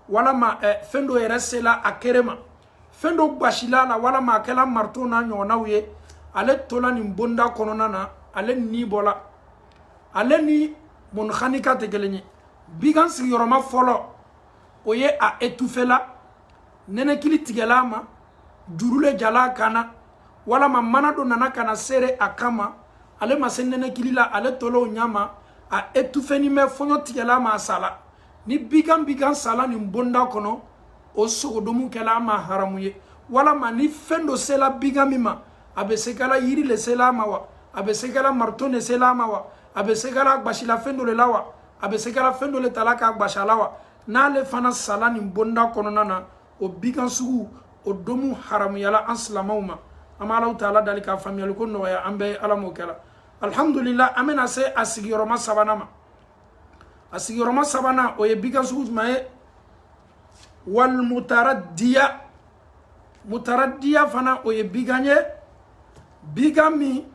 walama eh, fɛn dɔ yɛrɛ sela a kɛrɛ ma fɛn dɔ gbasila a la walama a kɛla marito n'a ɲɔgɔnnaw ye ale tola nin bonda kɔnɔna na ale ni bɔla ale ni munkhaniqa tɛ kelen ye bigan sigiyɔrɔma fɔlɔ o ye a etufela nɛnɛkili tigɛla a ma juru le jala a kan na walama mana dɔ nana ka na serré a kan ma ale ma se nɛnɛkili la ale tola o ɲa ma a etufenin bɛ fɔɲɔ tigɛla a ma a sala ni bigan bigan sala nin bonda kɔnɔ o sogodomu kɛla an ma haramu ye walama ni fɛn dɔ sela bigan min ma a bɛ se kɛla yiri le sela a ma wa a bɛ se kɛla marito le sela a ma wa a bɛ se kɛla gbasilafɛn dɔ le la wa a bɛ se kɛla fɛn dɔ le tala k'a gbasi a la wa n'ale fana sala nin bonda kɔnɔna na o bigan sugu o domu haramuyala an silamaw ma an bɛ alahu taala dali k'a faamuyaliko nɔgɔya an bɛɛ ala m'o kɛla alhamdulila an bɛna se a sigiyɔrɔma sabanan ma a sigiyɔrɔma sabanan o ye bigan sugu jumɛn ye walmutaraddiya mutaraddiya fana o ye bigan ye bigan min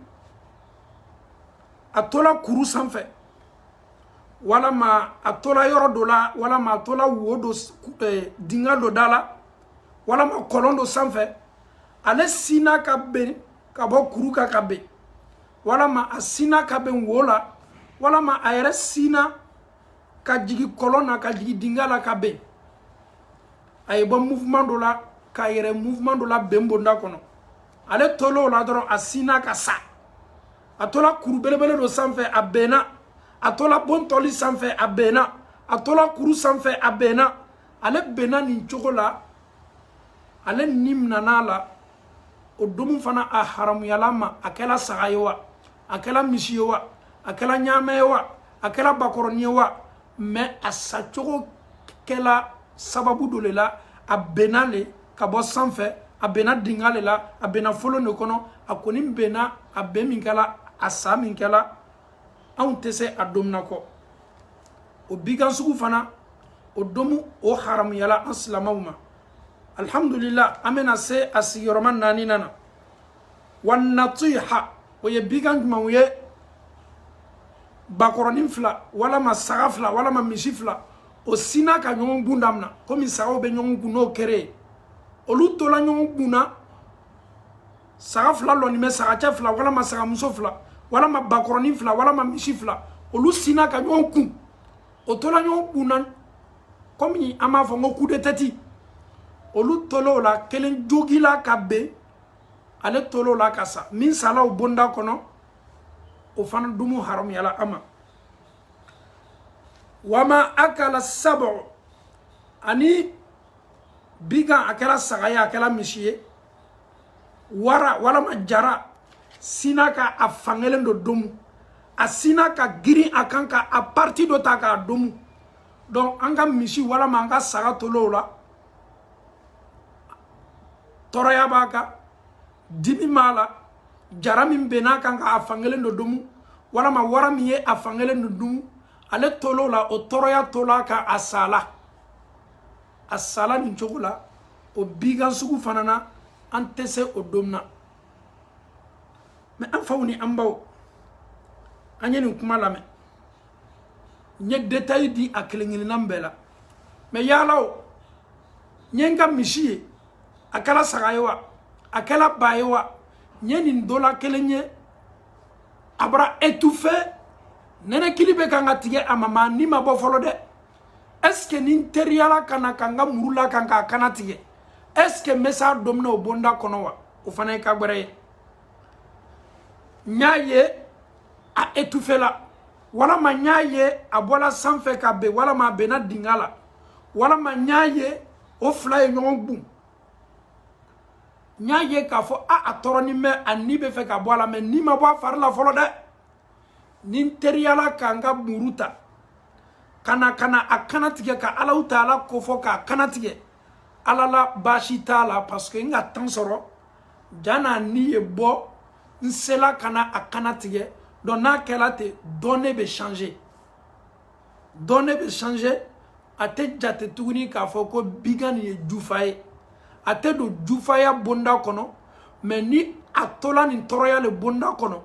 a tola kuru sanfɛ walama a tola yɔrɔ dɔ la walama a tola wo dɔ dinga dɔ da la walama kɔlɔn dɔ sanfɛ ale sinna ka ben ka bɔ kuru kan ka ben walama a sinna ka ben wo la walama a yɛrɛ sinna ka jigi kɔlɔn na ka jigi dinga la ka ben a ye bɔ mouvement dɔ la k'a yɛrɛ mouvement dɔ la ben bonda kɔnɔ ale tol'o la dɔrɔn a sinna ka sa a tola kuru belebele dɔ sanfɛ a benna a tola bon tɔli sanfɛ a benna a tola kuru sanfɛ a benna ale benna nin cogo la ale ni minan'a la o domu fana a haramuyala an ma a kɛla saga ye wa a kɛla misi ye wa a kɛla ɲaamɛ ye wa a kɛla bakɔrɔnin ye wa mais a sacogo kɛla sababu dɔ le la a benna le ka bɔ sanfɛ a benna dinga le la a benna folon de kɔnɔ a kɔni benna a ben min kɛla a sa min kɛla anw tɛ se a domu na kɔ o bigan sugu fana o domu o haramuyala an silamaw ma alhamdulillah an bɛna se a sigiyɔrɔma naaninan na wan natiha o ye bigan jumɛnw ye bakɔrɔnin fila walama saga fila walama misi fila o sinna ka ɲɔgɔn gun damina komi sagaw bɛ ɲɔgɔn gun n'o kere ye olu tola ɲɔgɔn gun na saga fila lɔnin bɛ saga cɛ fila walama saga muso fila walama bakɔrɔnin fila walama misi fila olu sinna ka ɲɔgɔn kun o tola ɲɔgɔn kun na komi an b'a fɔ n ko coup de tête olu tol'o la kelen jogila ka ben ale tol'o la ka sa min sala o bonda kɔnɔ o fana dumu haramuyala an ma wama akala sabu ani bigan a kɛla saga ye a kɛla misi ye wara walama jara sinna ka a fankelen dɔ domu a sinna ka girin a kan ka a parti dɔ ta k'a domu donc an ka misi walama an ka saga tol'o la tɔɔrɔya b'a kan dimi b'a la jara min benn'a kan k'a fankelen dɔ domu walama wara min ye a fankelen dɔ domu ale tol'o la o tɔɔrɔya tola ka a sala a sala nin cogo la o bigan sugu fana na an tɛ se o domu na mais an faw ni an baw an ye nin kuma lamɛn n ye détail di a kelen kelennan bɛɛ la mais yaala o n ye n ka misi ye a kɛla saga ye wa a kɛla ba ye wa n ye nin dɔ la kelen ye a bara étouffé nɛnɛkili bɛ kan ka tigɛ a ma maa ni ma bɔ fɔlɔ dɛ est ce que ni n teriyala ka na ka n ka muru l'a kan k'a kana tigɛ est ce que n bɛ s'a domu na o bonda kɔnɔ wa o fana ye ko gbɛrɛ ye n y'a ye a étouffé la walama n y'a ye a bɔla sanfɛ ka ben walama a benna dinga la walama n y'a ye o fila ye ɲɔgɔn gun n y'a ye k'a fɔ a a tɔɔrɔnin bɛ a ni bɛ fɛ ka bɔ a la mais ni ma bɔ a fari la fɔlɔ dɛ ni n teriyala ka n ka muru ta ka na ka na a kana tigɛ ka alahu taala kofɔ k'a kana tigɛ halala baasi t'a la parce que n ka temps sɔrɔ jan'a ni ye bɔ n sela ka na a kana tigɛ donc n'a kɛla ten données bɛ changer données bɛ changer a tɛ jate tuguni k'a fɔ ko bigan nin ye jufa ye a tɛ don jufaya bonda kɔnɔ mais ni a tola nin tɔɔrɔya le bonda kɔnɔ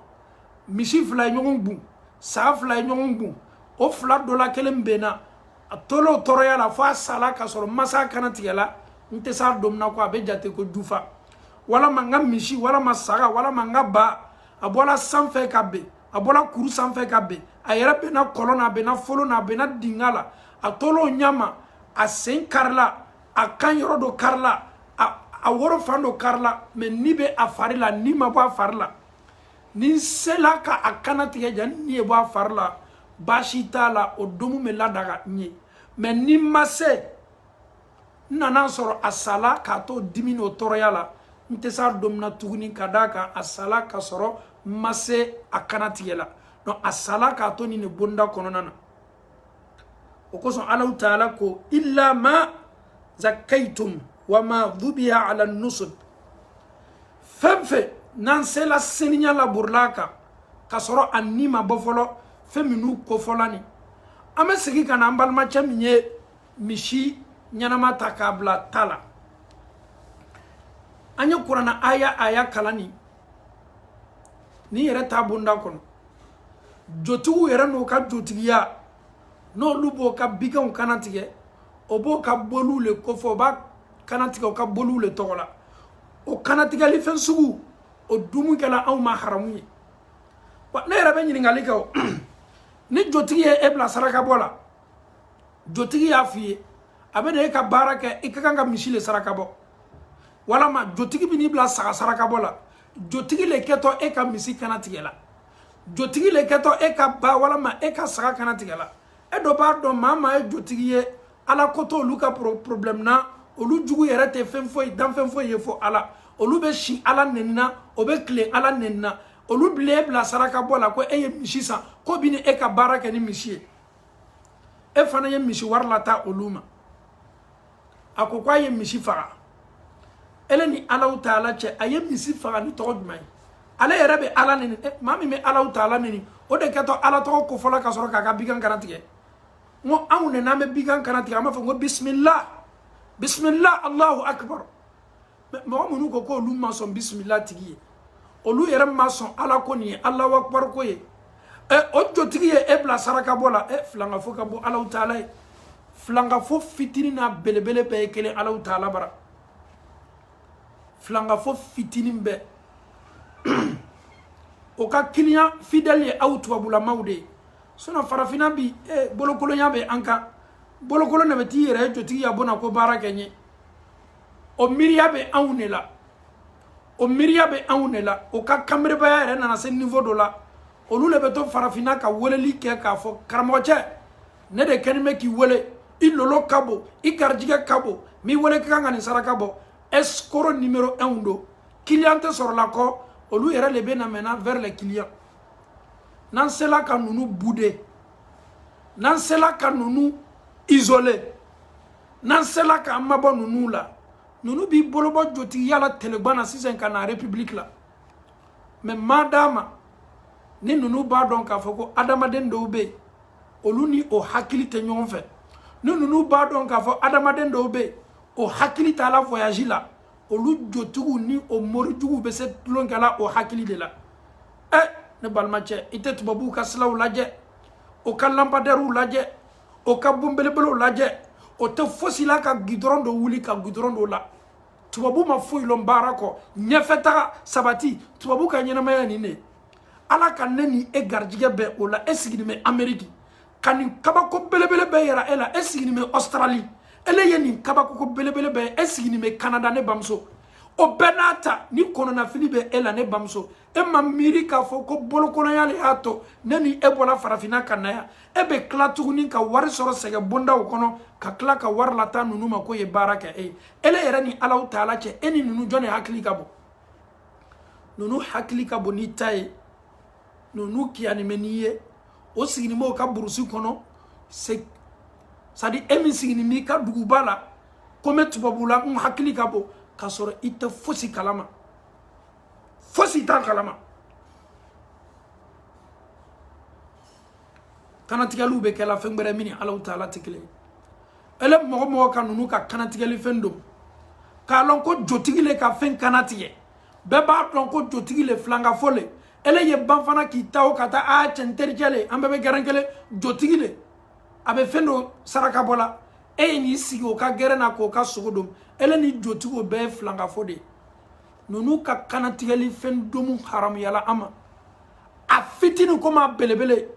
misi fila ye ɲɔgɔn gun saa fila ye ɲɔgɔn gun o fila dɔ la kelen benna a tol'o tɔɔrɔya la fo a sala k'a sɔrɔ n ma s'a kana tigɛ la n tɛ s'a domu na ko a bɛ jate ko jufa walama n ka misi walama saga walama n ka ba a bɔla sanfɛ ka ben a bɔla kuru sanfɛ ka ben a yɛrɛ benna kɔlɔn na a benna folo na a benna dinga la a tol'o ɲa ma a sen karila a kan yɔrɔ dɔ karila a woro fan dɔ karila mais ni bɛ a fari la ni ma bɔ a fari la ni n sela ka a kana tigɛ jani ni ye bɔ a fari la baasi t'a la o domu bɛ ladaga n ye mais ni n ma se n nana sɔrɔ a sala k'a to dimi n'o tɔɔrɔya la n tɛ s'a domu na tuguni ka d'a kan a sala ka sɔrɔ n ma se a kana tigɛ la donc a sala k'a to nin ne bonda kɔnɔna na o kosɔn alahu taala ko illa ma zakkaytum wa ma dhubiha ala nusub fɛn fɛn n'an sela seniya la muru l'a kan ka sɔrɔ a ni ma bɔ fɔlɔ fɛn minnu kofɔla nin an bɛ segin ka na an balimacɛ min ye misi ɲɛnama ta k'a bila ta la an ye kurana aya aya kalan nin n'i yɛrɛ taa bonda kɔnɔ jotigiw yɛrɛ n'o ka jotigiya n'olu b'o ka biganw kannatigɛ o b'o ka boliw le kofɔ o b'a kannatigɛ o ka boliw le tɔgɔ la o kannatigɛli fɛn sugu o dumu kɛla anw ma haramu ye wa ne yɛrɛ bɛ ɲininkali kɛ o ni jotigi ye e bila saraka bɔ la jotigi y'a f'i ye a bɛ na e ka baara kɛ i ka kan ka misi le saraka bɔ walama jotigi bɛ n'i bila saga sarakabɔ la jotigi le kɛtɔ e ka misi kannatigɛ la jotigi le kɛtɔ e ka ba walama e ka saga kannatigɛ la e dun b'a dɔn maa maa ye jotigi ye ala ko t'olu ka problème na olu jugu yɛrɛ tɛ fɛn foyi danfɛn foyi ye fo ala olu bɛ si ala nɛni na o bɛ tilen ala nɛni na olu b'ele bila saraka bɔ la ko e ye misi san k'o bɛ na e ka baara kɛ ni misi ye e fana ye misi wari lataa olu ma a ko k'a ye misi faga ele ni alahu taala cɛ a ye misi faga ni tɔgɔ jumɛn ye ale yɛrɛ bɛ ala nɛni eh, maa min bɛ alahu taala nɛni o de kɛtɔ ala tɔgɔ kofɔ la ka sɔrɔ k'a ka bigan kannatigɛ n ko anw de n'an bɛ bigan kannatigɛ an b'a fɔ n ko bisimila bisimila alahu akibaru mɔgɔ minnu ko k'olu ma sɔn bisimila tigi ye olu yɛrɛ ma sɔn ala ko nin ye alahu akibaru ko ye ɛ o jotigi ye e bila saraka bɔ la ɛ filankafo ka bon alahu taala ye filankafo fitini n'a belebele bɛɛ ye kelen alahu taala bara filankafo fitini bɛɛ o ka client fidèle ye aw tubabulamaw de ye sinon farafinna bi ɛ bolokolonya bɛ an kan bolokolon de bɛ t'i yɛrɛ jotigiya bon na ko baara kɛ n ye o miiriya bɛ anw de la o miiriya bɛ anw de la o ka kanberebaya yɛrɛ nana se niveau dɔ la olu de bɛ to farafinna ka weleli kɛ k'a fɔ karamɔgɔcɛ ne de kɛlen bɛ k'i wele i lolo ka bon i garijigɛ ka bon mais ele ka kan ka nin saraka bɔ escroc numéro 1 don client tɛ sɔrɔla kɔ olu yɛrɛ de bɛ na maintenant vers les clients n'an sela ka ninnu bouder n'an sela ka ninnu isoler n'an sela k'an mabɔ ninnu la ninnu b'i bolobɔ jotigiya la telegwan na sisan ka na république la mais maa dama ni ninnu b'a dɔn k'a fɔ ko adamaden dɔw bɛ yen olu ni o hakili tɛ ɲɔgɔn fɛ ni ninnu b'a dɔn k'a fɔ adamaden dɔw bɛ yen o hakili taala voyage la olu jotigiw ni o morijuguw bɛ se tulonkɛla o hakili de la ɛ ne balimacɛ i tɛ tubabuw ka silaw lajɛ o ka lampadarew lajɛ o ka bon belebelew lajɛ o tɛ fosi la ka gidɔrɔn dɔ wuli ka gidɔrɔn dɔ la tubabu ma foyi lɔn baara kɔ ɲɛfɛ taga sabati tubabu ka ɲɛnamaya nin de ala ka ne ni e garijigɛ bɛ o la e siginin bɛ ameriki ka nin kabako belebele bɛɛ yira e la e siginin bɛ ɔsitarali ele ye nin kabako ko belebele bɛɛ ye e siginin bɛ kanada ne bamuso o bɛɛ n'a ta ni kɔnɔnafili bɛ e la ne bamuso e ma miiri k'a fɔ ko bolokolonya le y'a to ne ni e bɔla farafinna ka na yan e bɛ tila tuguni ka wari sɔrɔ sɛgɛ bondaw kɔnɔ ka tila ka wari lata ninnu ma k'o ye baara kɛ e ye ele yɛrɛ ni alahu taala cɛ e ni ninnu jɔn de hakili ka bon ninnu hakili ka bon n'i ta ye ninnu kiyanin bɛ n'i ye o siginin b'o ka burusi kɔnɔ c'est à dire e min siginin b'i ka duguba la ko n bɛ tubabula n hakili ka bon k'a sɔrɔ i tɛ fosi kalama fosi t'an kalama kanatigɛliw bɛ kɛla fɛn gbɛrɛ min ni alahu taala tɛ kelen ele mɔgɔ mɔgɔ ka ninnu ka kanatigɛli fɛn domu k'a lɔn ko jotigi le ka fɛn kanatigɛ bɛɛ b'a dɔn ko jotigi le filankafo le ele ye ban fana k'i ta o ka taa a cɛ n tericɛ le an bɛɛ bɛ gɛrɛn kelen jotigi le a bɛ fɛn dɔ saraka bɔ la e ye n'i sigi o ka gɛrɛn na k'o ka sogo domu ele ni jotigi o bɛɛ filankafo de ninnu ka kanatigɛli fɛn domu haramuyala an ma a fitini komi a belebele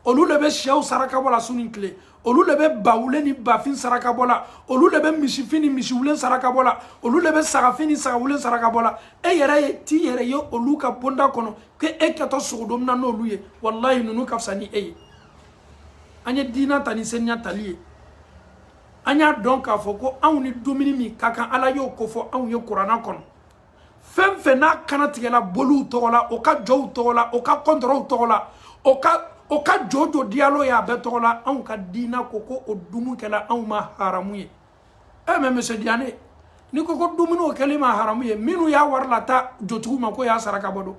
olu le bɛ siyɛw saraka bɔ la su ni tile olu le bɛ bawulen ni bafin saraka bɔ la olu le bɛ misifin ni misiwulen saraka bɔ la olu le bɛ sagafin ni sagawulen saraka bɔ la e yɛrɛ ye t'i yɛrɛ ye olu ka bonda kɔnɔ ko e kɛtɔ sogo domuna n'olu ye walayi ninnu ka fisa ni e ye an ye diina ta ni seniya tali ye an y'a dɔn k'a fɔ ko anw ni dumuni min ka kan ala y'o kofɔ anw ye kuranna kɔnɔ fɛn fɛn n'a kanatigɛla boliw tɔgɔ la o ka jow tɔgɔ la o ka kɔntɔrɔw tɔgɔ la o ka jo jo diyalo ye a bɛɛ tɔgɔ la anw ka diina ko ko o dumu kɛla anw ma haramu ye mais monsieur diane ni ko ko dumuni o kɛl'i ma haramu ye minnu y'a wari lata jotigiw ma k'o y'a saraka bɔ don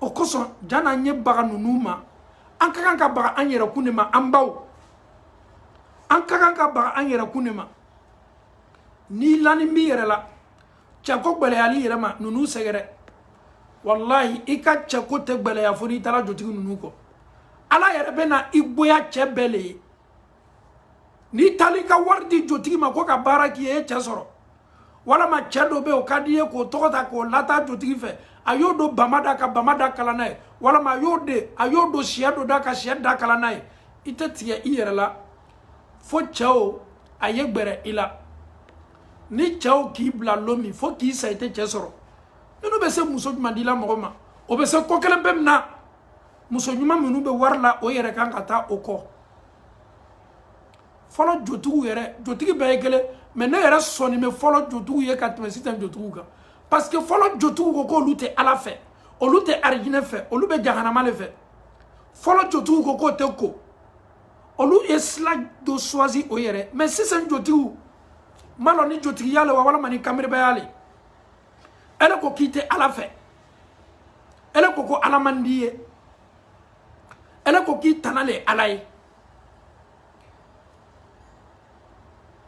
o kosɔn jan'an ye baga ninnu ma an ka kan ka baga an yɛrɛkun de ma an baw an ka kan ka baga an yɛrɛkun de ma n'i lanin b'i yɛrɛ la cɛko gwɛlɛyal'i yɛrɛ ma ninnu sɛgɛrɛ walahi i ka cɛko tɛ gwɛlɛya fo n'i taala jotigi ninnu kɔ ala yɛrɛ bɛna i gboya cɛ bɛɛ le ye n'i taal'i ka wari di jotigi ma ko ka baara k'i ye e cɛ sɔrɔ walama cɛ dɔ bɛ o ka di i ye k'o tɔgɔ ta k'o lata jotigi fɛ a y'o don bama da ka bama da kalan n'a ye walama a y'o de a y'o don siyɛ dɔ da ka siyɛ da kalan n'a ye i tɛ tigɛ i yɛrɛ la fo cɛ o a ye gbɛrɛ i la ni cɛ o k'i bila lon min fo k'i sa i tɛ cɛ sɔrɔ minnu bɛ se muso ɲuman dila mɔgɔ ma o bɛ se ko kelen pe min na muso ɲuman minnu bɛ wari la o yɛrɛ kan ka taa o kɔ fɔlɔ jotigiw yɛrɛ jotigi bɛɛ ye kelen mais ne yɛrɛ sɔnni bɛ fɔlɔ jotigiw ye ka tɛmɛ sisan jotigiw kan parce que fɔlɔ jotigiw ko k'olu tɛ ala fɛ olu tɛ arijinɛ fɛ olu bɛ jahanama de fɛ fɔlɔ jotigiw ko k'o tɛ ko olu ye sila dɔ suwasi o yɛrɛ mais sisan jotigiw m'a lɔn ni jotigiya le wa walima ni kanbelebaya le ele ko k'i tɛ ala fɛ ele ko ko ala man d'i ye ele ko k'i tana le ala ye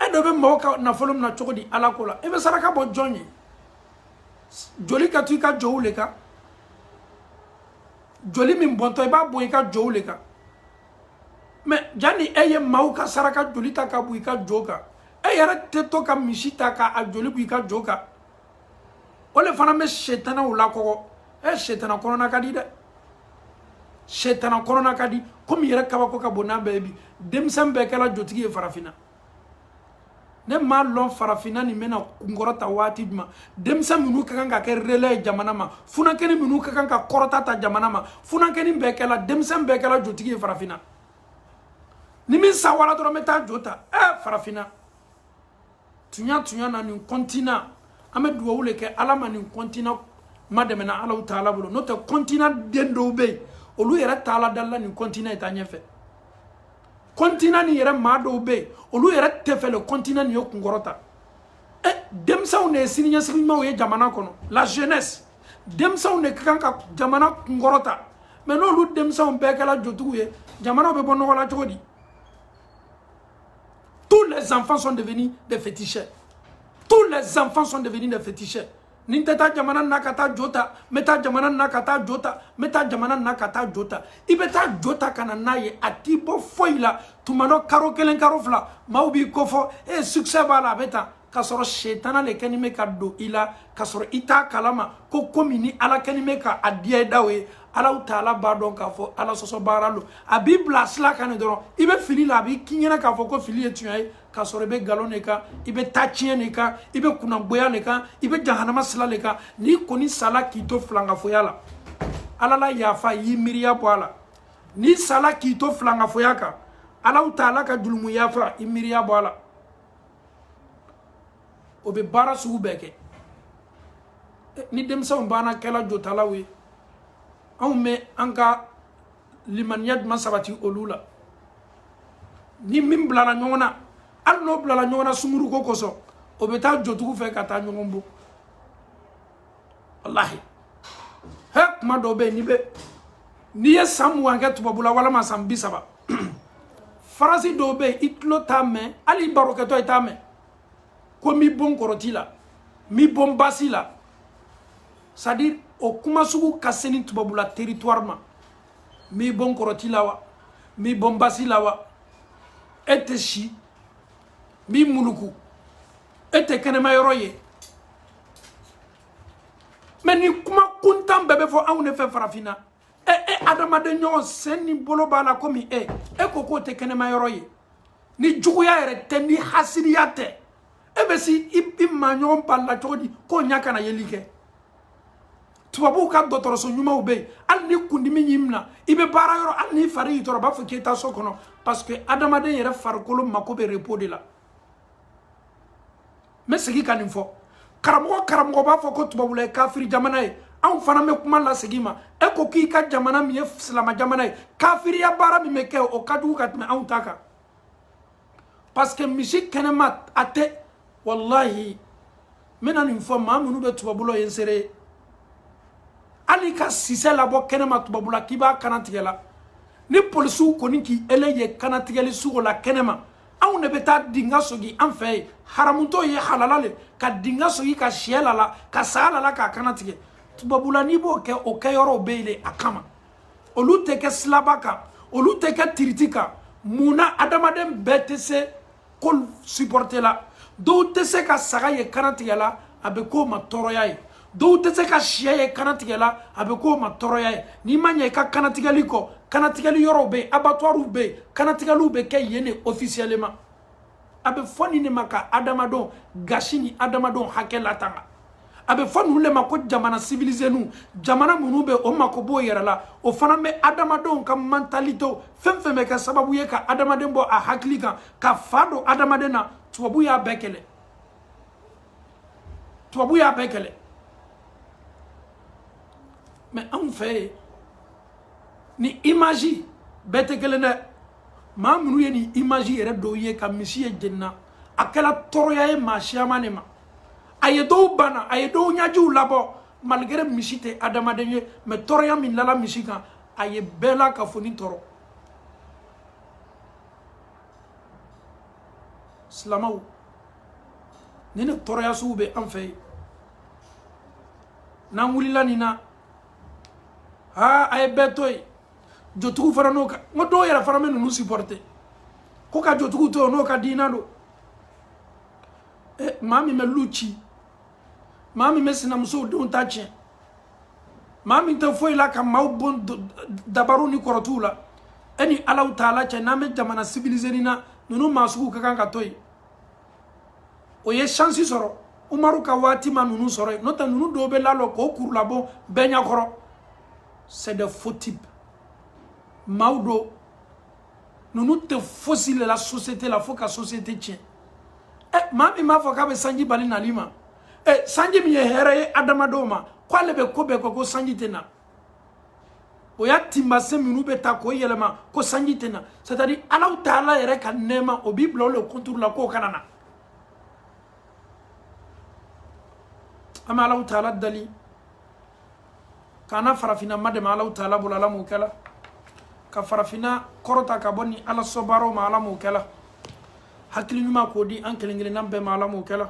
e do bɛ mɔgɔ ka nafolo mina cogo di ala ko la e bɛ saraka bɔ jɔn ye joli ka to i ka jow le kan joli min bɔntɔ i b'a bɔn i ka jow le kan mais janni e ye maaw ka saraka joli ta ka bɔn i ka jo kan e yɛrɛ tɛ to ka misi ta ka a joli bɔn i ka jo kan o le fana bɛ setanaw lakɔgɔ eh, setana kɔnɔna ka di dɛ setana kɔnɔna ka di komi yɛrɛ kabako ka bon n'a bɛɛ ye bi denmisɛn bɛɛ kɛla jotigi ye farafinna ne m'a lɔn farafinna nin bɛna kunkɔrɔta waati jumɛn denmisɛn minnu ka kan ka kɛ relɛ ye jamana ma funankɛni minnu ka kan ka kɔrɔta ta jamana ma funankɛni bɛɛ kɛla denmisɛn bɛɛ kɛla jotigi ye farafinna ni min sawara dɔrɔn n bɛ taa jo ta ɛ farafinna tunya tunya na nin kɔntina an bɛ dugawu le kɛ ala ma nin kɔntina madɛmɛna alaw taala bolo n'o tɛ kɔntina den dɔw bɛ yen olu yɛrɛ t'ala dali la nin kɔntina ye taa ɲɛfɛ kɔntina nin yɛrɛ maa dɔw bɛ yen olu yɛrɛ tɛ fɛ le kɔntina nin ye kunkɔrɔta eh, denmisɛnw de ye sini ɲɛsigi ɲumanw ye jamana kɔnɔ la jeunesse denmisɛnw de ka kan ka jamana kunkɔrɔta mais n'olu denmisɛnw bɛɛ kɛla jotigiw ye jamanaw bɛ bɔ nɔgɔ la cogo di Tous les enfants sont devenus des féticheurs. Tous les enfants sont devenus des féticheurs. ni n tɛ taa jamana na ka taa jo ta n bɛ taa jamana na ka taa jo ta n bɛ taa jamana na ka taa jo ta i bɛ taa jo ta ka na n'a ye a t'i bɔ foyi la tuma dɔ karo kelen karo fila maaw b'i kofɔ e succès b'a la a bɛ taa k'a sɔrɔ setana le kɛni bɛ ka don i la k'a sɔrɔ i t'a kalama ko komi ni ala kɛni bɛ ka a diya i daw ye alaw taala b'a dɔn k'a fɔ ala sɔsɔbaara lo a b'i bila sila kan dɔrɔn i bɛ fili la a bɛ k'i ɲɛna k'a fɔ ko fili ye tunya ye k'a sɔrɔ i bɛ nkalon de kan i bɛ taa tiɲɛ de kan i bɛ kunnangoya le kan i bɛ jahanama sila de kan n'i kɔni sala k'i to filankafoya la ala la yafa y'i miiriya bɔ a la n'i sala k'i to filankafoya kan alaw taala ka jurumu yafa i miiriya bɔ a la o bɛ baara sugu bɛɛ kɛ ni denmisɛnw banna kɛla jotalaw ye anw bɛ an ka limaniya jumɛn sabati olu la ni min bilala ɲɔgɔn na hali n'o bilala ɲɔgɔn na sunguruko kosɔn o bɛ taa jotigiw fɛ ka taa ɲɔgɔn bɔ walahi he kuma dɔw bɛ yen n'i bɛ n'i ye san mugan kɛ tubabula walima san bi saba faransi dɔw bɛ yen i tulo t'a mɛn hali i barokɛtɔ i t'a mɛn ko n b'i bon kɔrɔti la n b'i bon basi la c'est à dire o kuma sugu ka se ni tubabula territoire ma n b'i bon kɔrɔti la wa n b'i bon basi la wa e tɛ si n b'i muluku e tɛ kɛnɛma yɔrɔ ye mɛ ni kuma kuntan bɛɛ bɛ fɔ anw de fɛ farafinna ɛ e adamaden ɲɔgɔn sen ni bolo b'a la komi e e ko k'o tɛ kɛnɛma yɔrɔ ye ni juguya yɛrɛ tɛ ni hasiriya tɛ e bɛ se i maa ɲɔgɔn bali la cogo di k'o ɲa kana yeli kɛ tubabuw ka dɔgɔtɔrɔso ɲumanw bɛ yen hali ni kundimi y'i minɛ i bɛ baara yɔrɔ hali n'i fari y'i tɔɔrɔ u b'a fɔ k'i taa so kɔnɔ parce que adamaden yɛrɛ farikolo mako bɛ repos de la n bɛ segin ka nin fɔ karamɔgɔ karamɔgɔ b'a fɔ ko tubabula ye kafiri jamana ye anw fana bɛ kuma lasegin i ma e ko k'i ka jamana min ye silama jamana ye kafiriya baara min bɛ kɛ o ka jugu ka tɛmɛ anw ta kan parce que misi kɛnɛma a tɛ walahi n bɛna nin fɔ maa minnu bɛ tubabula o ye n seere ye hali ka sisɛ labɔ kɛnɛma tubabula k'i b'a kana tigɛ la ni polisiw kɔni k'ele ye kana tigɛli sugu o la kɛnɛma anw de bɛ taa dinga sogi an fɛ yen haramu tɔɔ ye halala le ka dinga sogi ka siyɛ lala ka saga lala k'a kana tigɛ tubabula n'i b'o kɛ o kɛyɔrɔw bɛ yen de a kama olu tɛ kɛ silaba kan olu tɛ kɛ tiriti kan mun na adamaden bɛɛ tɛ se ko supɔrite la dɔw tɛ se ka saga ye kana tigɛ la a bɛ k'o ma tɔɔrɔya ye dɔw tɛ se ka siya ye kanatigɛ la a bɛ k'o ma tɔɔrɔya ye n'i ma ɲɛ i ka kanatigɛli kɔ kanatigɛli yɔrɔw bɛ yen abattoirs bɛ yen kanatigɛliw bɛ kɛ yen de officiellement a bɛ fɔ nin de ma ka adamadenw gasi ni adamadenw hakɛ latanga a bɛ fɔ ninnu de ma ko jamana sivilizeniw jamana minnu bɛ o mako b'o yɛrɛ la o fana bɛ adamadenw ka mantalitew fɛn fɛn bɛ kɛ sababu ye ka adamaden bɔ a hakili kan ka fa don adamaden na tubabu y'a bɛɛ kɛlɛ tubabu y'a bɛɛ kɛlɛ mɛ anw fɛ yen ni imaji bɛɛ tɛ kelen dɛ maa minnu ye nin imaji yɛrɛ dɔw ye ka misi ye jeni na a kɛra tɔɔrɔya ye maa siyaman de ma a ye dɔw bana a ye dɔw ɲajiw labɔ malgré misi tɛ adamaden ye mɛ tɔɔrɔya min lala misi kan a ye bɛɛ lakafonin tɔɔrɔ silamaw ni nin tɔɔrɔya sugu bɛ an fɛ yen n'an wulila nin na aa a ye bɛɛ to yen jotigiw fana n'o ka n ko dɔw yɛrɛ fana bɛ ninnu supporter ko ka jotigiw to n'o ka diina don ɛ maa min bɛ lu ci maa min bɛ sinamusow denw ta tiɲɛ maa min tɛ foyi la ka maaw bon dabariw ni kɔrɔtiw la e ni alaw taala cɛ n'an bɛ jamana civilisé nin na ninnu maa sugu ka kan ka to yen o ye shansi sɔrɔ umaru ka waati ma ninnu sɔrɔ yen n'o tɛ ninnu dɔw bɛ lalɔ k'o kurulabon bɛɛ ɲɛkɔrɔ c'est des faux types maaw don ninnu tɛ fosi le la société la fo ka société tiɲɛ ɛ maa min b'a fɔ k'a bɛ sanji bali nali ma ɛ sanji min ye hɛrɛ ye adamadenw ma k'ale bɛ ko bɛɛ kɛ ko sanji tɛ na o y'a tinbasen minnu bɛ ta k'o yɛlɛma ko sanji tɛ na c'est à dire alaw taala yɛrɛ ka nɛɛma o b'i bila o le contre la k'o kana na an bɛ alaw taala dali k'an na farafinna madɛmɛ alaw taala bolo ala m'o kɛla ka farafinna kɔrɔta ka bɔ nin ala sɔbaaraw ma ala m'o kɛla hakili ɲuman k'o di an kelen kelenna bɛɛ ma ala m'o kɛla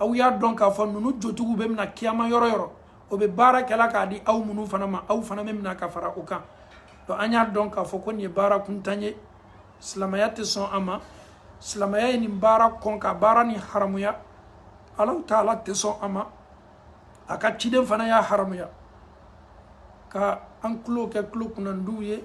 aw y'a dɔn k'a fɔ ninnu jotigiw bɛ mina kiyama yɔrɔ yɔrɔ o bɛ baara kɛla k'a di aw minnu fana ma aw fana bɛ mina ka fara o kan donc an y'a dɔn k'a fɔ ko nin ye baara kuntan ye silamɛya tɛ sɔn a ma silamɛya ye nin baara kɔn ka baara nin haramuya alaw taala tɛ sɔn a ma a ka ciden fana y'a haramuya ka an tulo kɛ tulo kunnandiw ye